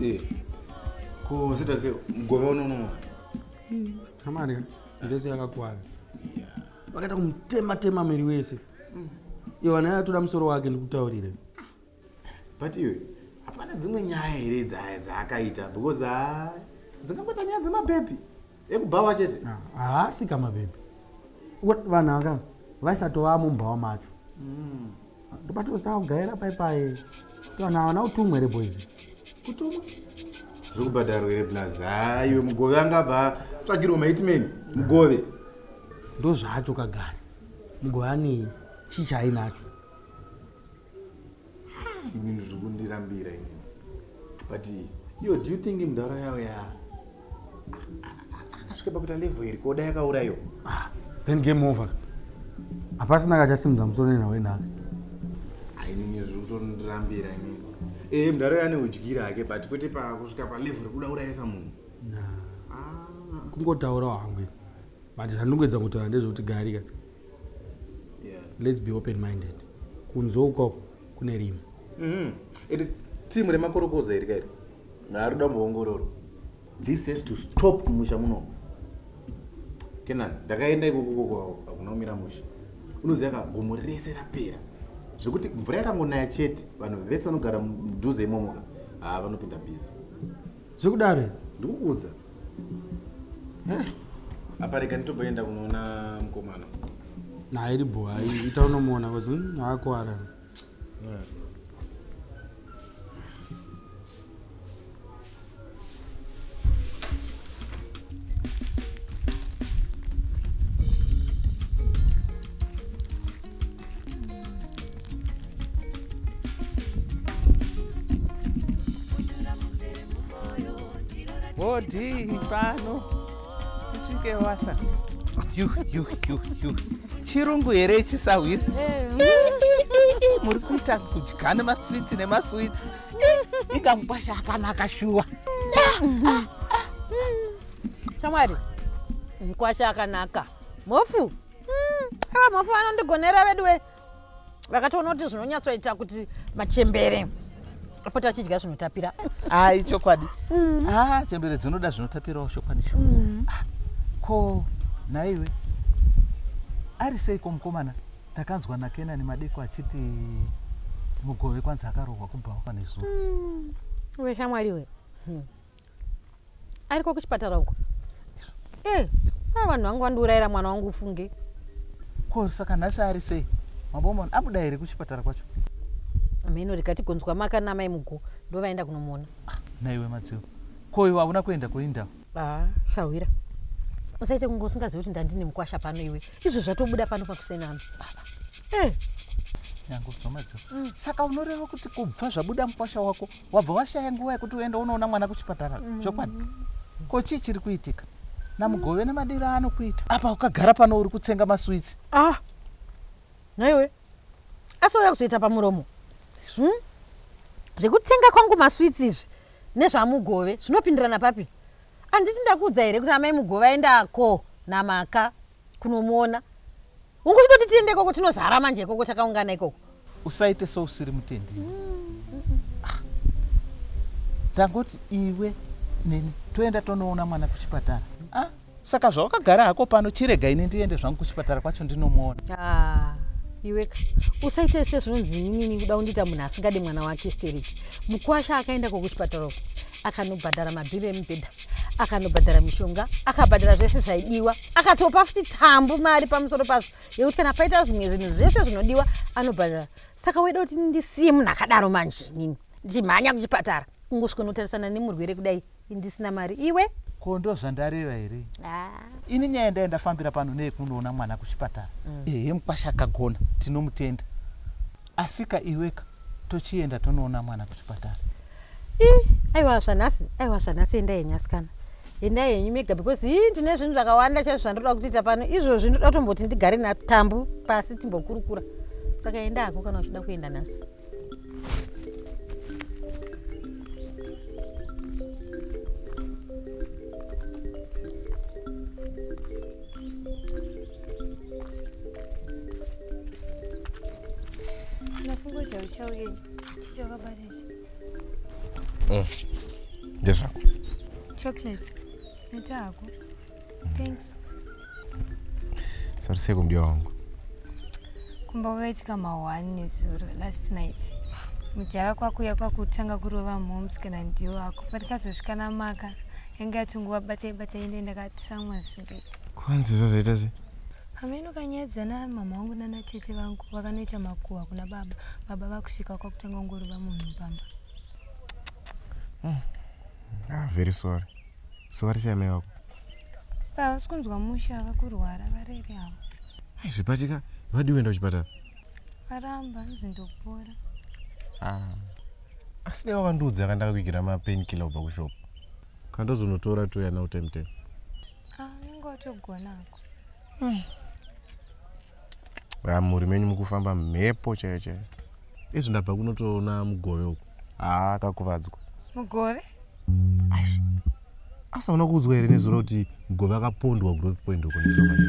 Eh, ko zita sei mugove uno unomo kamari ndese yakakwana vakaita kumutema tema miri wese iwe vana yatoda musoro wake ndikutaurire but iwe hapana dzimwe nyaya here dzaya dzaakaita because ha dzingabata nyaya dzemabhebhi ekubhawa chete haasi ka mabhebhi vanhu anga vaisatova mumbhawa macho mm. ndopatostaa kugaira paipai vanhu havana kutumwa here boys kutumwa zvekubhadharwa here plus haiwe mugove angabva tsvagirwa maitmeni mugove ndozvacho kagari mugove anei chii chaainacho inini zvikundirambira inini but yo do you think mdhara yawo ya akasvika pakuita level iri koda yakaurayiwa ah, then game over hapasina kachasimudza musoro nenhau yenhaka ainini ah, zviri kutondirambira inini ee eh, mdhara yane udyira hake but kwete pakusvika palevel rekuda urayisa munhu ah. kungotaurawo hangu but zvandingoedza kutaura ndezvekuti garika yeah. let's be open minded kunze uko kune rimwe mm -hmm. iti timu remakorokoza iri kairi ngaarida muongororo this has to stop musha muno kenan ndakaenda ikokokoko hakuna kumira musha unoziva ka gomo rese rapera zvekuti mvura yakangonaya chete vanhu vese vanogara mudhuze imomoka haa vanopinda bhizi Zvekudaro here? Ndikukuudza. Eh. Apa rega nditoboenda kunoona mkomana. Nah, iri bho, hayi ita unomuona kozi hmm, haakuwara. Yeah. bhodhi pano tisvike wasa chirungu here ichisahwira muri kuita kudya nemaswitsi nemaswitsi inga mukwasha akanaka shuwa shamwari mukwasha akanaka mofu ava mhofu vanondigonera veduwe vakatoona kuti zvinonyatsoita kuti machembere apota achidya zvinotapira ai chokwadi mm. ah, chembere dzinoda zvinotapirawo chokwadi cho mm. ah, ko naiwe ari sei ko mukomana takanzwa nakenani madeko achiti mugove kwanzi akarohwa kubhawa kwanezuva mm. veshamwariwe ariko kuchipatara uko eh, a vanhu vangu vandiurayira mwana wangu ufunge ko saka nhasi ari sei mabomon abuda here kuchipatara kwacho hameno rikati gonzwa maka namai mugo ndovaenda kunomuona ah, naiwe madziwo ko iwe hauna kuenda kuindawo ah, shahwira usaite kunge usingazivi kuti ndandine mukwasha pano iwe izvo zvatobuda pano pakusenano eh. nyango bvamadziwo mm. saka unoreva kuti kubva zvabuda mukwasha wako wabva washaya nguva yekuti uende unoona mwana kuchipatara mm. chokwadi ko chii chiri kuitika namugove nemadiro aanokuita apa ukagara pano uri kutsenga maswitsi ah naiwe asi uya kuzoita pamuromo hmm? zvekutsenga kwangu maswitsi izvi nezvamugove zvinopindirana papi anditi ndakuudza here kuti amai mugove aenda ko namaka kunomuona hungu chidoti tiende ikoko tinozara manje ikoko takaungana ikoko usaite sousiri mutendi ah. tangoti iwe neni toenda tonoona mwana kuchipatara ah, saka zvawakagara hako pano chirega ini ndiende zvangu kuchipatara kwacho ndinomuona ah, iweka usaite se zvinonzi inini kuda kundiita munhu asingade mwana wake stereki mukwasha akaenda ko kuchipatara uko akanobhadhara mabhiri emubhedha akanobhadhara mishonga akabhadhara zvese zvaidiwa akatopa futi tambu mari pamusoro pazvo yekuti kana paita zvimwe zvinhu zvese zvinodiwa anobhadhara saka waida kuti ndisiye munhu akadaro manje nini ndichimhanya kuchipatara kungosvika unotarisana nemurwere kudai ndisina mari iwe ko ndo zvandareva here ah. ini nyaya ndai ndafambira pano neyekunoona mwana kuchipatara mm. ehe mukwasha akagona tinomutenda Asika iweka tochienda tonoona mwana kuchipatara. Ii, aiwa zvanhasi, aiwa zvanhasi endai henyu asikana. Endai henyu mega because hii ndine zvinhu zvakawanda chaizvo zvandoda kutiita pano. Izvozvi ndoda kutomboti ndigare natambu pasi timbokurukura. Saka enda hako kana uchida kuenda nhasi. ndafunga kuti hauchauye chicho wakabata ichi mm. ndezvako chocolate ita hako thanks sariseko mdiwa wangu kumba kwakaitika mahwani nezuro last night mudhara kwakuya kwakutanga kurova moms kana ndiwo ako patikazosvika namaka yanga yatinguva batai batai ende ndakati samwasi kwanzi zvazvaita sei hameno kanyadza namama wangu nana tete vangu vakanoita makuhwa kuna baba baba vakusvika kwakutanga kungorova munhu pamba hmm. ah, very sorry so vari sei amai vako havasi kunzwa musha ava kurwara varere avo zvipatika vadii kuenda kuchipatara varamba hanzi ndopora ah. asi dai wakandiudza kandakakuigira mapein killer kubva kushopo kandozonotora touya now time time ah, unenge watogonako hmm. ah, mhuri menyu mukufamba mhepo chaiyo chaiyo izvi ndabva kunotoona mugove uku haa ah, kakuvadzwa mugove ashi asi auna kuudzwa here nezuro kuti mugove akapondwa growth point uko ndizvomane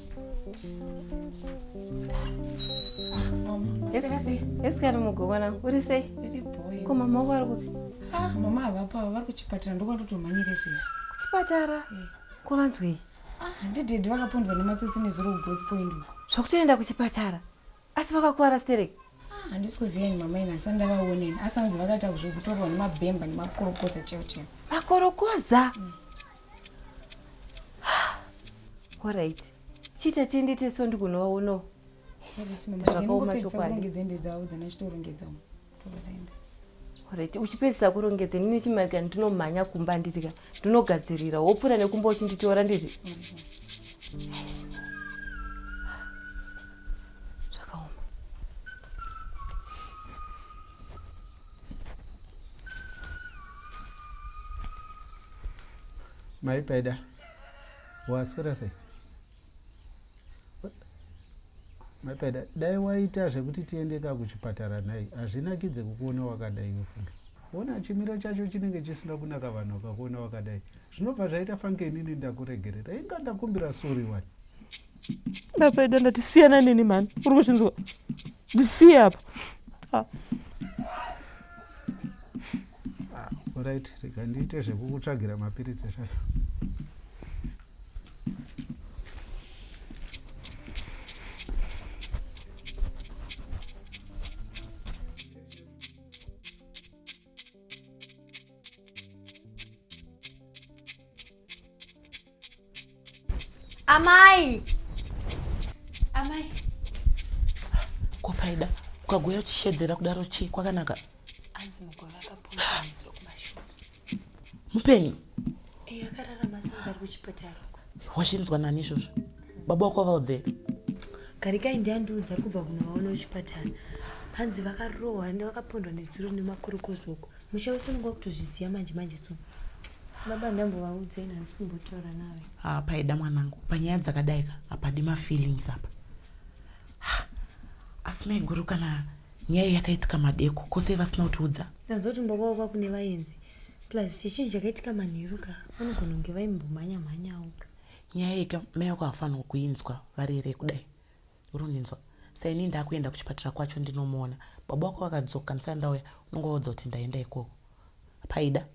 esikari mugokwana uri sei ko mama wako ari kupi ah, mama havapo ava vari kuchipatara ndokwandotomhanyire izvezvi kuchipatara eh. ko vanzwei ah, handidedi vakapondwa nematsotsi nezuro kugoth point uko zvakutoenda kuchipatara Asi vakakuvara sterek? Ah, handisi kuziva ini mama ini asi andavaoneni asi hanzi vakaita zvekutorwa nemabhemba nemakorokoza cheo cheo. Makorokoza? Mm. Alright. Chita tiende teso ndikunovaonawo. Zvakaoma chokwadi. Dzembe dzavo dzana chitorongedza umu. Alright, uchipedzisa kurongedza ini nechimarika ndinomhanya kumba nditi ka ndinogadzirira wopfuura nekumba uchinditora nditi Eish. zvakaoma Mai Paida, waswera sei? Mapeda, dai waita zvekuti tiende ka kuchipatara nhai, hazvinakidze kukuona wakadai wefunge. Ona chimiro chacho chinenge chisina kunaka vanhu vakakuona wakadai. Zvinobva zvaita fanke inini ndakuregerera. Inga ndakumbira sorry wani. Mapeda, ndati siyana neni mhani, uri kuzvinzwa? Ndisiye apa. Ah. Ah, alright, rega ndiite zvekukutsvagira mapiritsi zvacho. amai amai ko paida ukagouya uchishedzera kudaro chii kwakanaka anzi mugove akapoakumashops mupenyu eh, wazvinzwa nani izvozvo baba wako vavaudze garikai ndiandiudza ari kubva kunovaona kuchipatara hanzi vakarohwa ende vakapondwa nezuro nemakorokozoko musha wese unenge wakutozviziva manje manje so baba ndambovaudze ina handisi kumbotaura nawe ha paida mwanangu panyaya dzakadaika hapadi mafeelings apa asi maiguru kana nyaya yakaitika madeko ko sei vasina kutiudza ndanzwa kuti mbaba wava kune vaenzi plus chechinhu chakaitika manheru ka vanogona kunge vaimbomhanya mhanyawo ka nyaya yeka mai vako havafanirwa kuinzwa vari here kudai uri kundinzwa saini ndakuenda kuchipatara kwacho ndinomuona baba wako vakadzoka ndisati ndauya unonge vaudza kuti ndaenda ikoko paida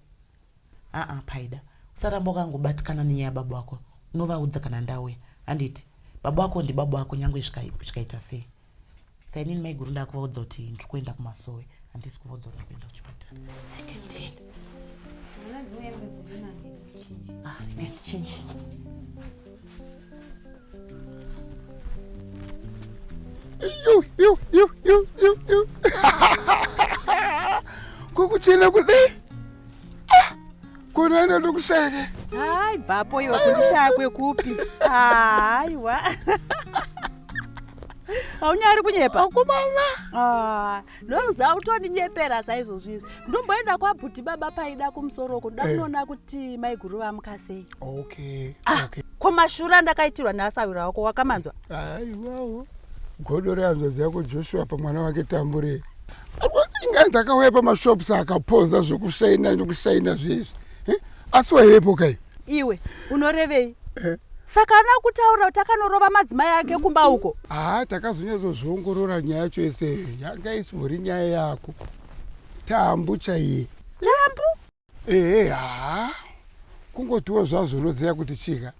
aa paida usaramba ukangobatikana nenyaya yababa wako unovaudza kana ndauya handiti baba wako ndibaba wako nyange zvikaita sei Saka inini maiguru ndakuvaudza kuti ndiri kuenda kumasowe handisi kuvaudza kuti kuenda kuchipatara ndichinji kukuchena kudai kunoenda ndokuseke hayi bvapo iwe kundishaya kwekupi haiwa haunyari kunyepa akomana Ah, ndonza utondinyepera saizvozvizvi ndomboenda kwabhuti baba paida kumusoro uko ndoda Eh. kunoona kuti maiguru vamuka sei okay Ah, okay ko mashura ndakaitirwa neasawira wako wakamanzwa aiwawo godo rehanzvadzi yako joshua pamwana wake tambure inga ndakauya pamashops akapoza zvekushaina nekushaina zveizvi eh? asi waivepo kai iwe unorevei eh? saka ana kutaura kuti akanorova madzimai ake kumba uko haa takazonyatsozviongorora nyaya yacho yese yanga isibori nyaya yako tambu chaiye tambu ehe haa kungotiwo zvazvo unoziva kuti chika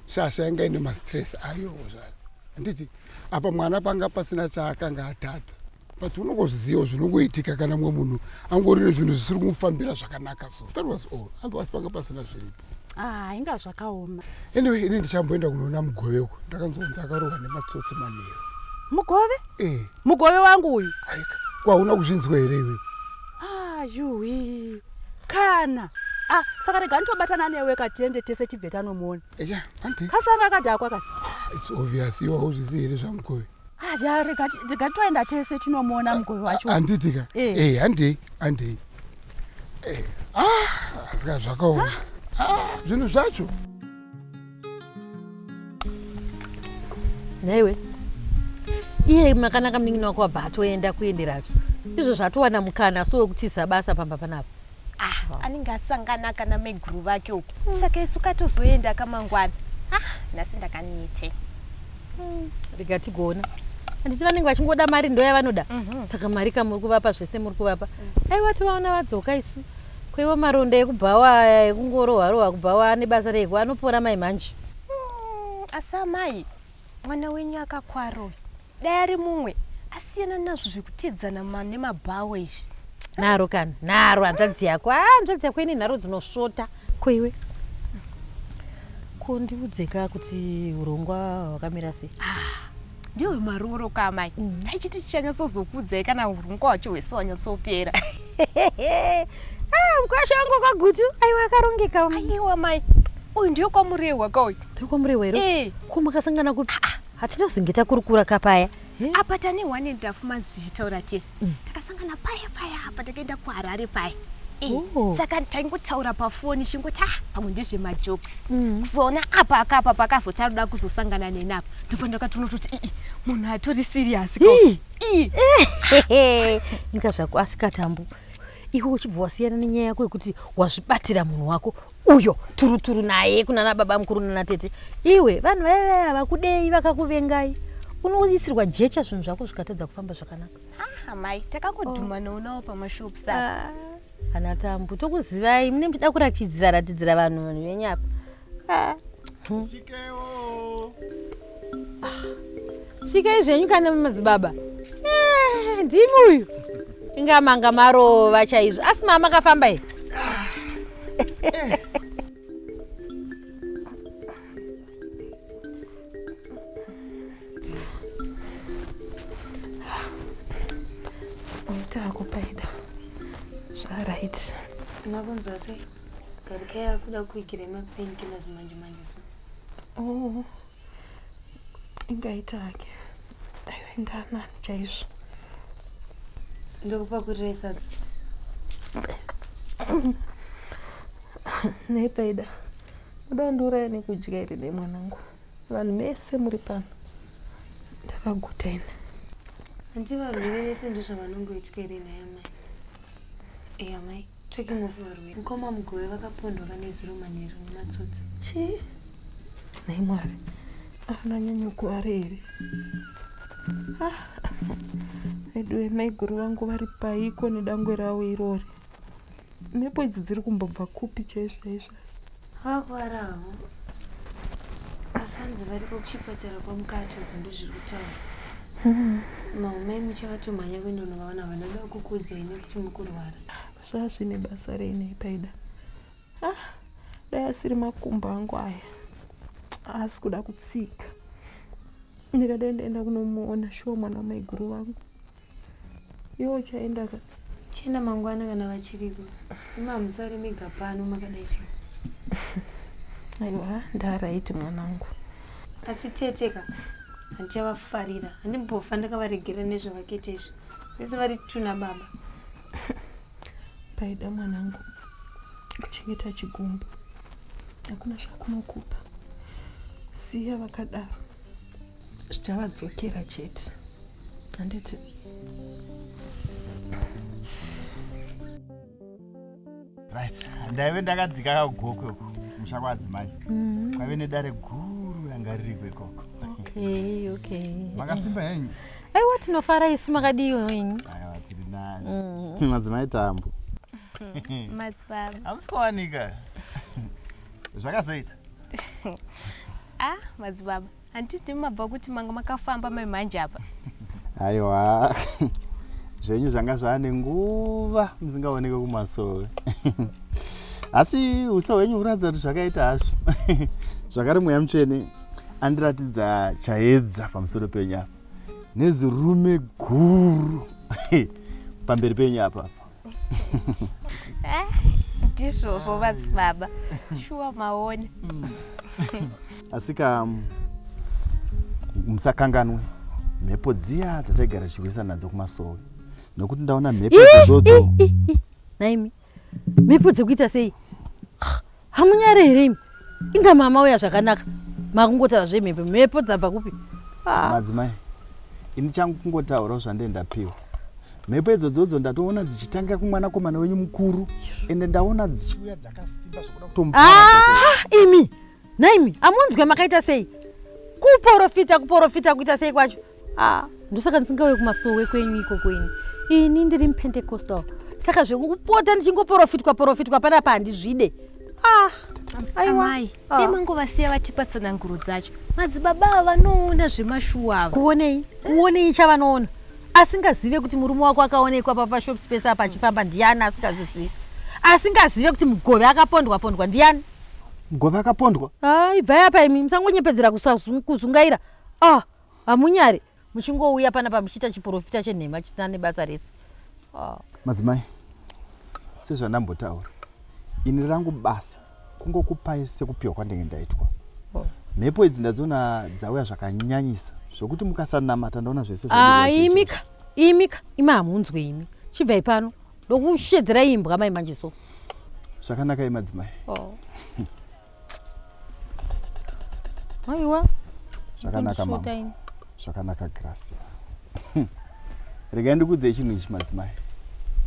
shasha yanga ine mastress ayowo zvaro handiti apa mwana panga pasina chaakanga atadza but unongozvizivawo zvinongoitika kana mumwe munhu angori nezvinhu zvisiri kumufambira zvakanaka so that was all otherwise panga pasina zviripo ah, inga zvakaoma anyway ini ndichamboenda kunoona mugove uko ndakanzonzi akarohwa nematsotsi manheru mugove eh. Mugove wangu uyu. Aika, kwauna kuzvinzwa here iwe? Ah, yuwi. Kana. Ah, saka rega nditobatana newe katiende tese tibve tanomuona. Yeah, ante. Kasanga kadhakwa ka. Ah, it's obvious iwe hauzvizivi here zvamugove? Ah, ya rega rega toenda tese tinomuona ah, mugove wacho. Handiti ka? Eh, eh handei, handei. Eh. Ah, asika zvakaoma. Ah, zvinhu zvacho. nhaiwe iye makanaka munin'ina wako wabva atoenda kuenderazvo izvo zvatowana mukana so wekutiza basa pamba panapa ah, anenge asangana kana meguru vake uku hmm. saka isu katozoenda kamangwana ah, nhasi ndakanite hmm. rega tigona handiti vanenge vachingoda mari ndoya vanoda mhm. saka mari kamuri kuvapa zvese muri kuvapa mhm. aiwa tivaona vadzoka isu Ko iwo maronda ekubhawa aya ekungorohwa rohwa kubhawa ane basa rei ko anopora mai manje. Mm, asi amai mwana wenyu akakwara uyu dai ari mumwe asiyana nazvo zvekutidzana ma- nemabhawa izvi Nharo kana nharo hanzvadzi yako ah hanzvadzi yako ine nharo dzinosvota. Ko iwe ko ndiudzeka kuti urongwa hwakamira sei. ndiwe marooro ka amai mm. taichiti tichanyatsozokudzai kana hurungu wacho hwese wanyatsopera ah, mkwasha wangu kwagutu aiwa akarongeka aiwa mai uyu ndiyo kwamurehwa ka uyu ndiyo kwamurehwa here eh. ko makasangana kupi ah, ah. hatina zvinge takurukura ka paya eh? apa tane one ndafu manzi tichitaura tese mm. takasangana paya paya apa takaenda kuharare paya eh, oh. saka taingotaura pafoni chingoti ah pamwe ndezvemajokes mm. kuzona mm. apa akapa pakazoti anoda kuzosangana neni apa ndobva ndakatonototi ii munhu atori siriyasi inga zvako asikatambu iwe uchibva wasiyana nenyaya yako yekuti wazvibatira munhu wako uyo turuturu naye kunana baba mukuru nana tete iwe vanhu vaive vakudei vakakuvengai unoisirwa jecha zvinhu zvako zvikatadza kufamba zvakanaka ah, mai takangodhuma oh. noonawo pamashopu sa ah, ana tambu tokuzivai mune muchida kuratidzira ratidzira vanhu vanhu venyapa ah. Ah, svikai zvenyu kana madzibaba eh, ndimi uyu inga manga marova chaizvo asi mama akafamba here Makunzwa sei? Garikaya akuda kuikira mapainkillers manje manje so. Oh, ingaita hake aienda nani chaizvo ndokupakurira sadza nei paida uda undiuraya nekudya here nei mwanangu vanhu mese muri pano ndakaguta ini hanti varwere vese ndozvavanongoitwa here nhai amai e amai Taking of varwere. Mukoma Mugove vakapondwa kana izuro manheru nematsotsi. Chii? Nhai Mwari. Ana nyanyo kuare here? Ah. Veduwe maiguru vangu vari paiko nedangwe ravo irori. Mhepo idzi dziri kumbobva kupi chaizvo chaizvo. Vakuvara havo. Asanzi variko kuchipatara kwamukati uko ndozviri kutaura. Hmm. Maumai muchavatomhanya kuenda unovaona vanoda kukuudzai nekuti mukurwara. Zvazvine basa reinei paida. Ah, dai asiri makumbo angu aya. Asi kuda kutsika. Ndikadai ndaenda kunomuona shuwa mwana wamaiguru vangu. Iwe uchaenda ka? Chena mangwana kana vachiriko. Ima musare mega pano makadai so. Aiwa, ndaraiti mwanangu. Asi tete ka handichavafarira. Handimbofa ndakavaregera nezvavakete izvi. Vese vari tuna baba. Paida mwanangu kuchengeta chigumbu. Hakuna zvakunokupa. Siya vakadaro. zvichavadzokera chete handiti right ndaive ndakadzika kagokwe uko musha kwaadzimai mm-hmm. kwaive nedare guru ranga ririko ikoko okay okay makasimba henyu aiwa tinofara isu makadiyo henyu aiwa tiri nani mm-hmm. madzimai tambo madzibaba hamusi kuwanika zvakazoita ah madzibaba handiti mabva kuti manga makafamba mai manje apa aiwa zvenyu zvanga zvaane nguva musingaoneke kumasove asi uso hwenyu huratidza kuti zvakaita hazvo zvakare mweya mutsvene andiratidza chaedza pamusoro penyu apa nezirume guru pamberi penyu apapa Eh, ndizvozvo vadzibaba shuwa maone asika um, musakanganwe mhepo dziya dzataigara tichihwesa nadzo kumasowe nokuti ndaona mhepo dzodzo naimi mhepo dzekuita sei hamunyare here imi inga mama uya zvakanaka makungotaura zvemhepo mhepo dzabva kupi ah. madzimai ini changu kungotaurawo zvandee ndapiwa mhepo idzodzodzo ndatoona dzichitanga kumwanakomana wenyu mukuru ende ndaona dzichiuya dzakasimba zvokuda kutomu ah, imi nhaimi amunzwe makaita sei kuporofita kuporofita kuita sei kwacho ah ndosaka ndisingauye kumasowe kwenyu ikoko ini ini ndiri mupentecostal saka zvekupota ndichingoporofitwa porofitwa panapa handizvide ah amai ah. dai mangovasiya vatipa tsananguro dzacho madzibaba ava vanoona zvemashuwa ava kuonei kuonei chavanoona asingazive kuti murume wako akaonekwa papashop space apa achifamba ndiani asingazvizivi asingazive kuti mugove akapondwa pondwa ndiani mugove akapondwa ah, ibvai apa imi musangonyepedzera kuzungaira ah Hamunyari muchingouya panapa muchiita chiporofita chenhema chisina nebasa rese. Ah. Madzimai, sezvandambotaura, ini rangu basa kungokupai sekupiwa kwandenge ndaitwa. Oh. Mhepo idzi ndadziona dzauya zvakanyanyisa zvokuti mukasanamata ndaona zvese ah, imika imika imi hamunzwe imi chibvai pano ndokushedzera imbwa mai manje so zvakanaka imadzimai oh. aiwa zvakanaka mama zvakanaka gracia regai ndikuudzei chinhu ichi madzimai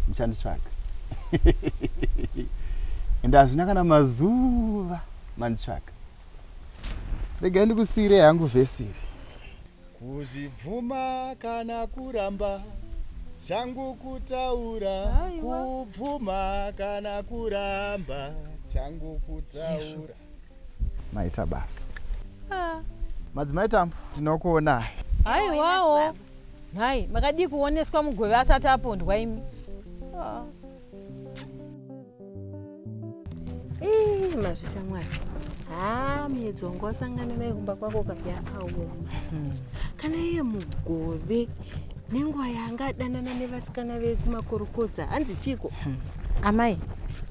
muchanditsvaga ende hazvina kana mazuva manditsvaga regai ndikusiirei hangu vhesiri Kuzvibvuma kana kuramba changu kutaura kubvuma kana kuramba changu kutaura maita basa ah. madzimai tambo tinokuonai haiwawo nhai makadii kuoneswa mugove asati apondwa imi ah. mazvishamwari haa miedzi wangu wasangana naye kumba kwako ka yakaoma hmm. kana iye mugove nenguva yanga adanana nevasikana vekumakorokoza hanzi chiko hmm. amai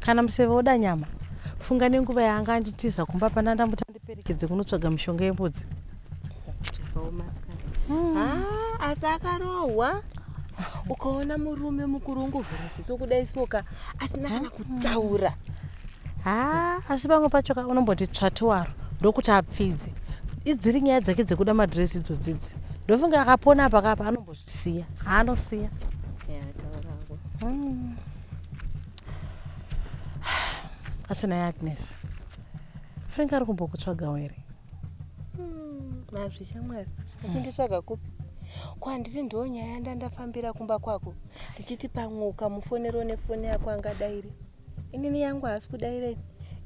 kana museve woda nyama funga nenguva yanga anditiza kumba pana ndamutandi Perekedze kunotsvaga mishonga yembudzi. Zvakaoma asikana. Hmm. Ah, asi akarohwa ukaona murume mukuru ungovhura ziso kudai soka asina kana hmm. kutaura. Ha, ah, asi pamwe pacho ka unomboti tsvati waro ndokuti apfidze. Idziri nyaya dzake dzekuda madress idzodzidzi. Ndofunga akapona apa kapa anombozvisiya. Anosiya. Yeah, taura hako. Hmm. Asi naye Agnes. Frank ari kumbokutsvagawo here? Hmm, mazvi shamwari achinditsvaga kupi? Ko handiti ndiwo nyaya yandandafambira kumba kwako ndichiti pamwe ukamufonero nefoni yako angadairi inini yangu haasi kudairei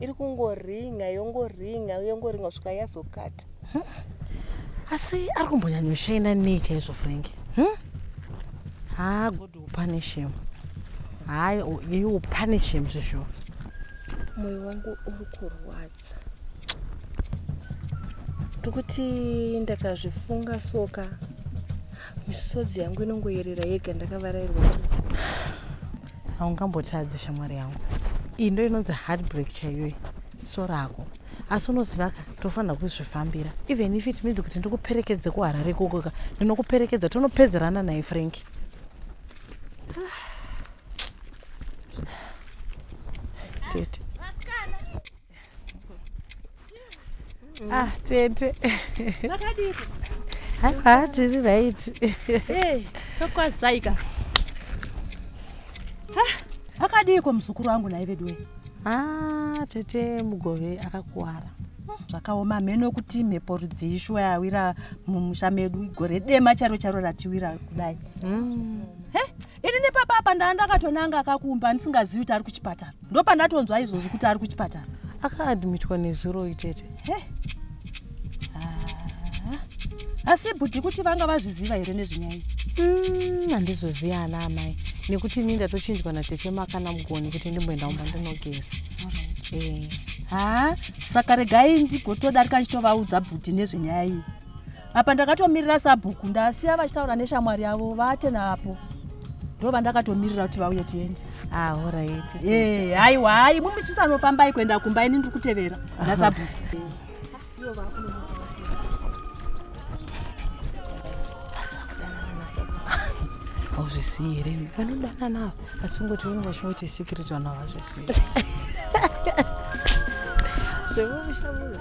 iri kungoringa yongoringa yongoringa kusvika yazokata hmm? asi ari kumbonyanyoshaina nei chaizvo frank hmm? Punish him. Hayi, you punish him zvizvo. Moyo wangu uri kurwadza. Ndikuti ndakazvifunga soka. Misodzi yangu inongoyerera yega ndakavarairwa. Haungambotadzi shamwari yangu. Iyi ndo inonzi heartbreak chaiyoyi. So rako. asi unoziva ka tofanira kuzvifambira even if it means kuti ndikuperekedze kuharare ikoko ka ndinokuperekedza tonopedzerana naye frank tete ah tete haa tiri right tokwazaika akadiiko muzukuru wangu naye veduwe Ah, tete mugove akakuwara zvakaoma hameno kuti mhepo rudzii shuwa yawira mumusha medu gore dema charo charo ratiwira kudai mm. he ini nepapa apa ndaa ndakatonanga akakumba ndisingazivi kuti ari kuchipatara ndopandatonzwa izvozvi kuti ari kuchipatara akaadmitwa nezuro itete asi bhudhi kuti vanga vazviziva here nezvenyaya mm, handizoziva ana amai nekuti ini ndatochinjwa natete makana mugoni kuti ndimboenda umba ndinogeza eh. ha saka regai ndigotodarika ndichitovaudza bhudhi nezvenyaya iyi apa ndakatomirira sabhuku ndasiya vachitaura neshamwari yavo vate napo ndo vandakatomirira kuti vauye tiende ah, eh, haiwa hai mumi chisanofambai kuenda kumba ini ndiri kutevera nasabhuku hauzvisiyi here vanodana navo asi ngoti vanenge vachingoti secret vana vazvisiyi zvemumushamuza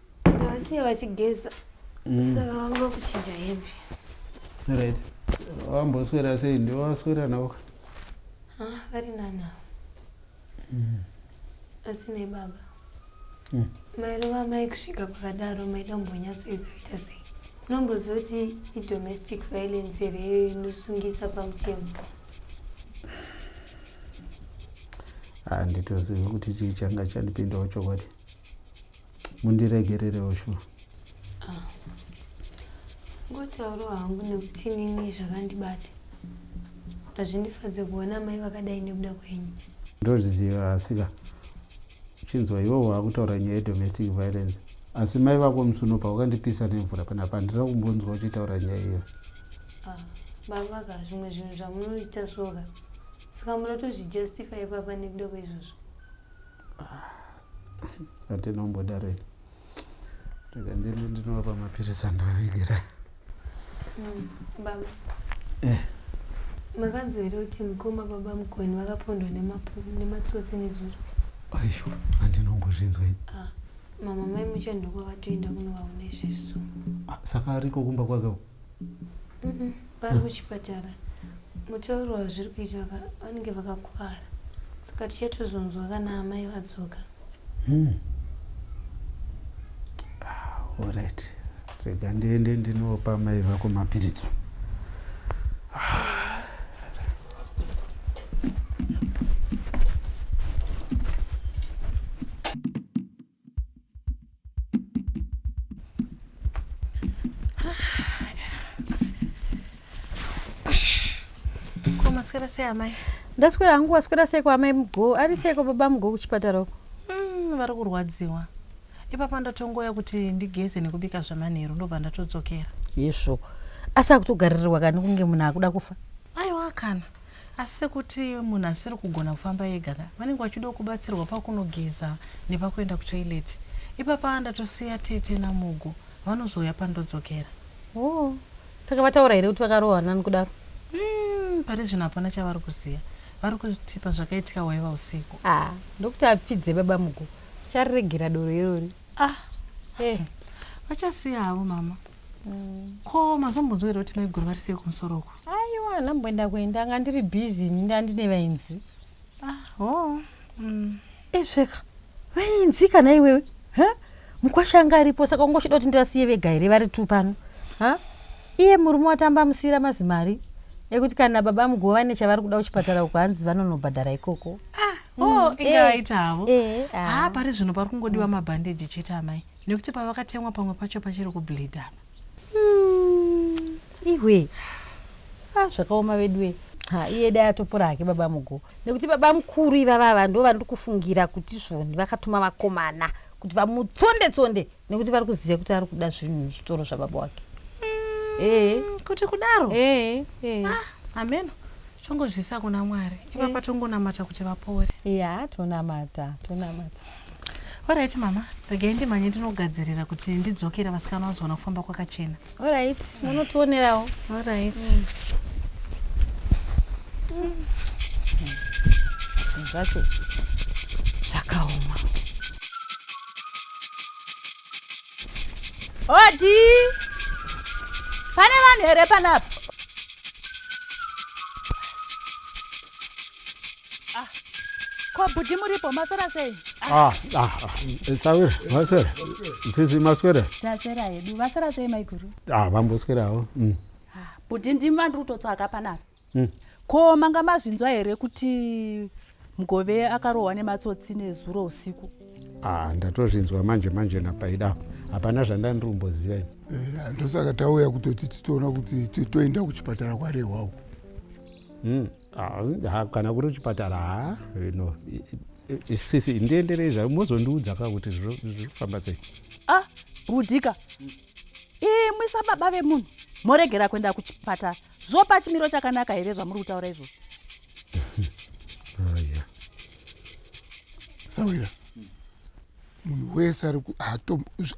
Ndavasiya vachigeza mm. saka vanga vakuchinja hembe. Right. Wamboswera sei ndiwo waswera nawo? Ah, vari nanawo. Mm. Asi nei baba? Mm. Mairova mai kusvika pakadaro maida kumbonyatsoedza kuita sei? Unomboziva kuti idomestic violence here iyoyo inosungisa pamutemo? handitozivi kuti chii changa chandipindawo chokwadi mundiregererewo shuwa ah. ngotauro hangu nekuti nini zvakandibata hazvindifadze kuona mai vakadai nekuda kwenyu ndozviziva asika uchinzwa iwe waakutaura nyaya yedomestic violence asi mai vako musuno pawakandipisa nemvura panapa handira kumbonzwa uchitaura nyaya iyo ah, baba ka zvimwe zvinhu zvamunoita soka saka munotozvijustify papa nekuda kweizvozvo ah. Ati nomboda rei. Rega ndini ndinovapa mapiritsi andovavigira. Mm, baba. Eh. Makanzwa here kuti mukoma baba Mugoni vakapondwa nematsotsi nezuro? Aisho, andinombozvinzwa ini. Ah, mama mai muchanduko vatoenda kunovaona izvezvo. Ah, saka ariko kumba kwake uko? vari kuchipatara mutauro wazviri kuita vanenge vakakuvara saka tichatozonzwa kana amai vadzoka hmm. ah, orit rega ndiende ndinopa mai vako mapiridzo maswera sei amai ndaswera hangu waswera seiko amai mgo ari seiko baba mgo kuchipatara uko mm, vari kurwadziwa ipapa ndatongoya kuti ndigeze nekubika zvamanheru ndobva ndatodzokera yesvo asi akutogaririrwa kani kunge munhu akuda kufa aiwa kana Asi kuti munhu asiri kugona kufamba ega ka vanenge vachidawo kubatsirwa pakunogeza nepakuenda kutoilet. Ipapa ndatosiya tete naMugu vanozouya pandodzokera. Hoo saka vataura here kuti vakarohwa nani kudaro? Umm pari zvino hapana chavari kuziva. Vari kutipa zvakaitika hwaiva usiku. Ah ndokuti apfidze baba Mugu. Uchariregera doro irori. Ah eh vachasiya havo mama. Mm. Ko mazombonzwa here kuti maiguru vari sei kumusoro uko? Aiwa, handina kumboenda kuenda, anga ndiri busy ini ndandine vainzi. Ah, oh. Mm. Ezveka, eh, vainzi kana iwewe? Huh? Mukwasha anga aripo saka ungochida kuti ndivasiye vega here vari two pano? Huh? Iye murume watamba musira mazimari ekuti kana baba muguva vane chavari kuda kuchipatara uko hanzi vanonobhadhara ikoko. Ah, oh, mm. inga eh, aita havo. Eh, ah. ah, pari zvino pari kungodiwa mabhandeji chete amai. nekuti pavakatemwa pamwe pacho pachiri kubleed apa hmm, ihwe ah, zvakaoma veduwe ha iye dai atopora hake baba mugo nekuti baba mukuru ivavava ndo vandiri kufungira kuti zvoni vakatuma vakomana kuti vamutsonde tsonde nekuti vari kuziva kuti ari kuda zvinhu muzvitoro zvababa wake hmm, ee kuti kudaro ee ah, ameno tongozvisa kuna mwari ipapa tongonamata kuti vapore ya tonamata tonamata Alright mama, regai ndimhanye ndinogadzirira kuti ndidzokera vasikana vazoona kufamba kwakachena. Alright, munotionerawo. Alright. Mm. zvacho zvakaoma odi pane vanhu here panapa Ah, ko bhudhi muripo maswera sei Ah, ah, ah, sawira maswera sisi maswera taswera hedu vaswera sei maiguru ah, vamboswerawo mm. bhudhi ndimi vandiri kutotsvaga panapa Mm. ko manga mazvinzwa here kuti mugove akarohwa nematsotsi nezuro usiku ah, ndatozvinzwa manje manje napaida hapana zvandandiri kumboziva ini Eh, ndosaka tauya kutoti titoona kuti to- toenda kuchipatara kwarehwa uko Mm, ah, kana kuri chipatara ha eh, no eh, eh, sisi ndienderei zvayo mozondiudza ka kuti zvirikufamba sei ah budika imwi sababa vemunhu moregera kuenda kuchipatara zvopa chimiro chakanaka here zvamuri kutaura izvozvo ah, sawira munhu wese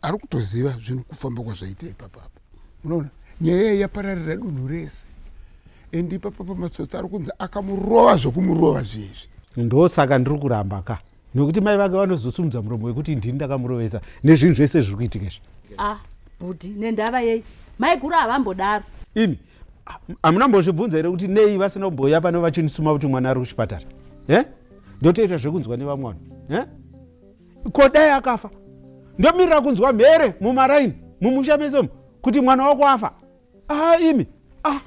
ari kutoziva zvinhu kufamba kwazvaita ipapapa unoona nyaya yapararira dunhu rese and ipapa pamatsotsi ari kunzi akamurova zvekumurova zviezvi ndosaka ndiri kuramba ka nokuti mai vake vanozosumudza muromo wekuti ndini ndakamurovesa nezvinhu zvese zviri kuitika izvi ah bhudhi nendava yei maiguru havambodaro ini hamuna mbozvibvunza here kuti nei vasina kumbouya pano vachinisuma kuti mwana ari kuchipatara e ndotoita zvekunzwa nevamwe vanhu e ko dai akafa ndomirira kunzwa mhere mumaraini mumusha mese umu kuti mwana wako afa aa imi a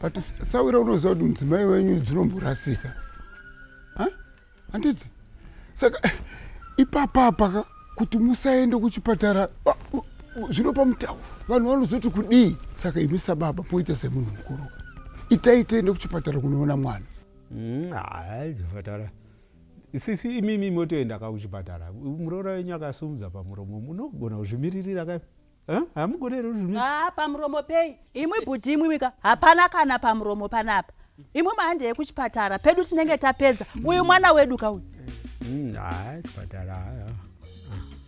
but sawira unoziva kuti mudzimai wenyu dzinomborasika handiti saka ipapapaka kuti musaende kuchipatara zvinopa mutauro vanhu vanozoti kudii saka imi sababa moita semunhu mukuru itai tiende kuchipatara kunoona mwana mm, chipatara Sisi imimi motoenda ka kuchipatara. Muroora wenyu akasumudza pamuromo munogona kuzvimiririra ka. Hamugone here kuzvimiririra? Haa pamuromo pei? Imwi bhudhi imwimwi ka hapana kana pamuromo panapa. Imwi mahandei kuchipatara pedu tinenge tapedza. Uyu mwana wedu ka uyu. Mm, haa chipatara haa.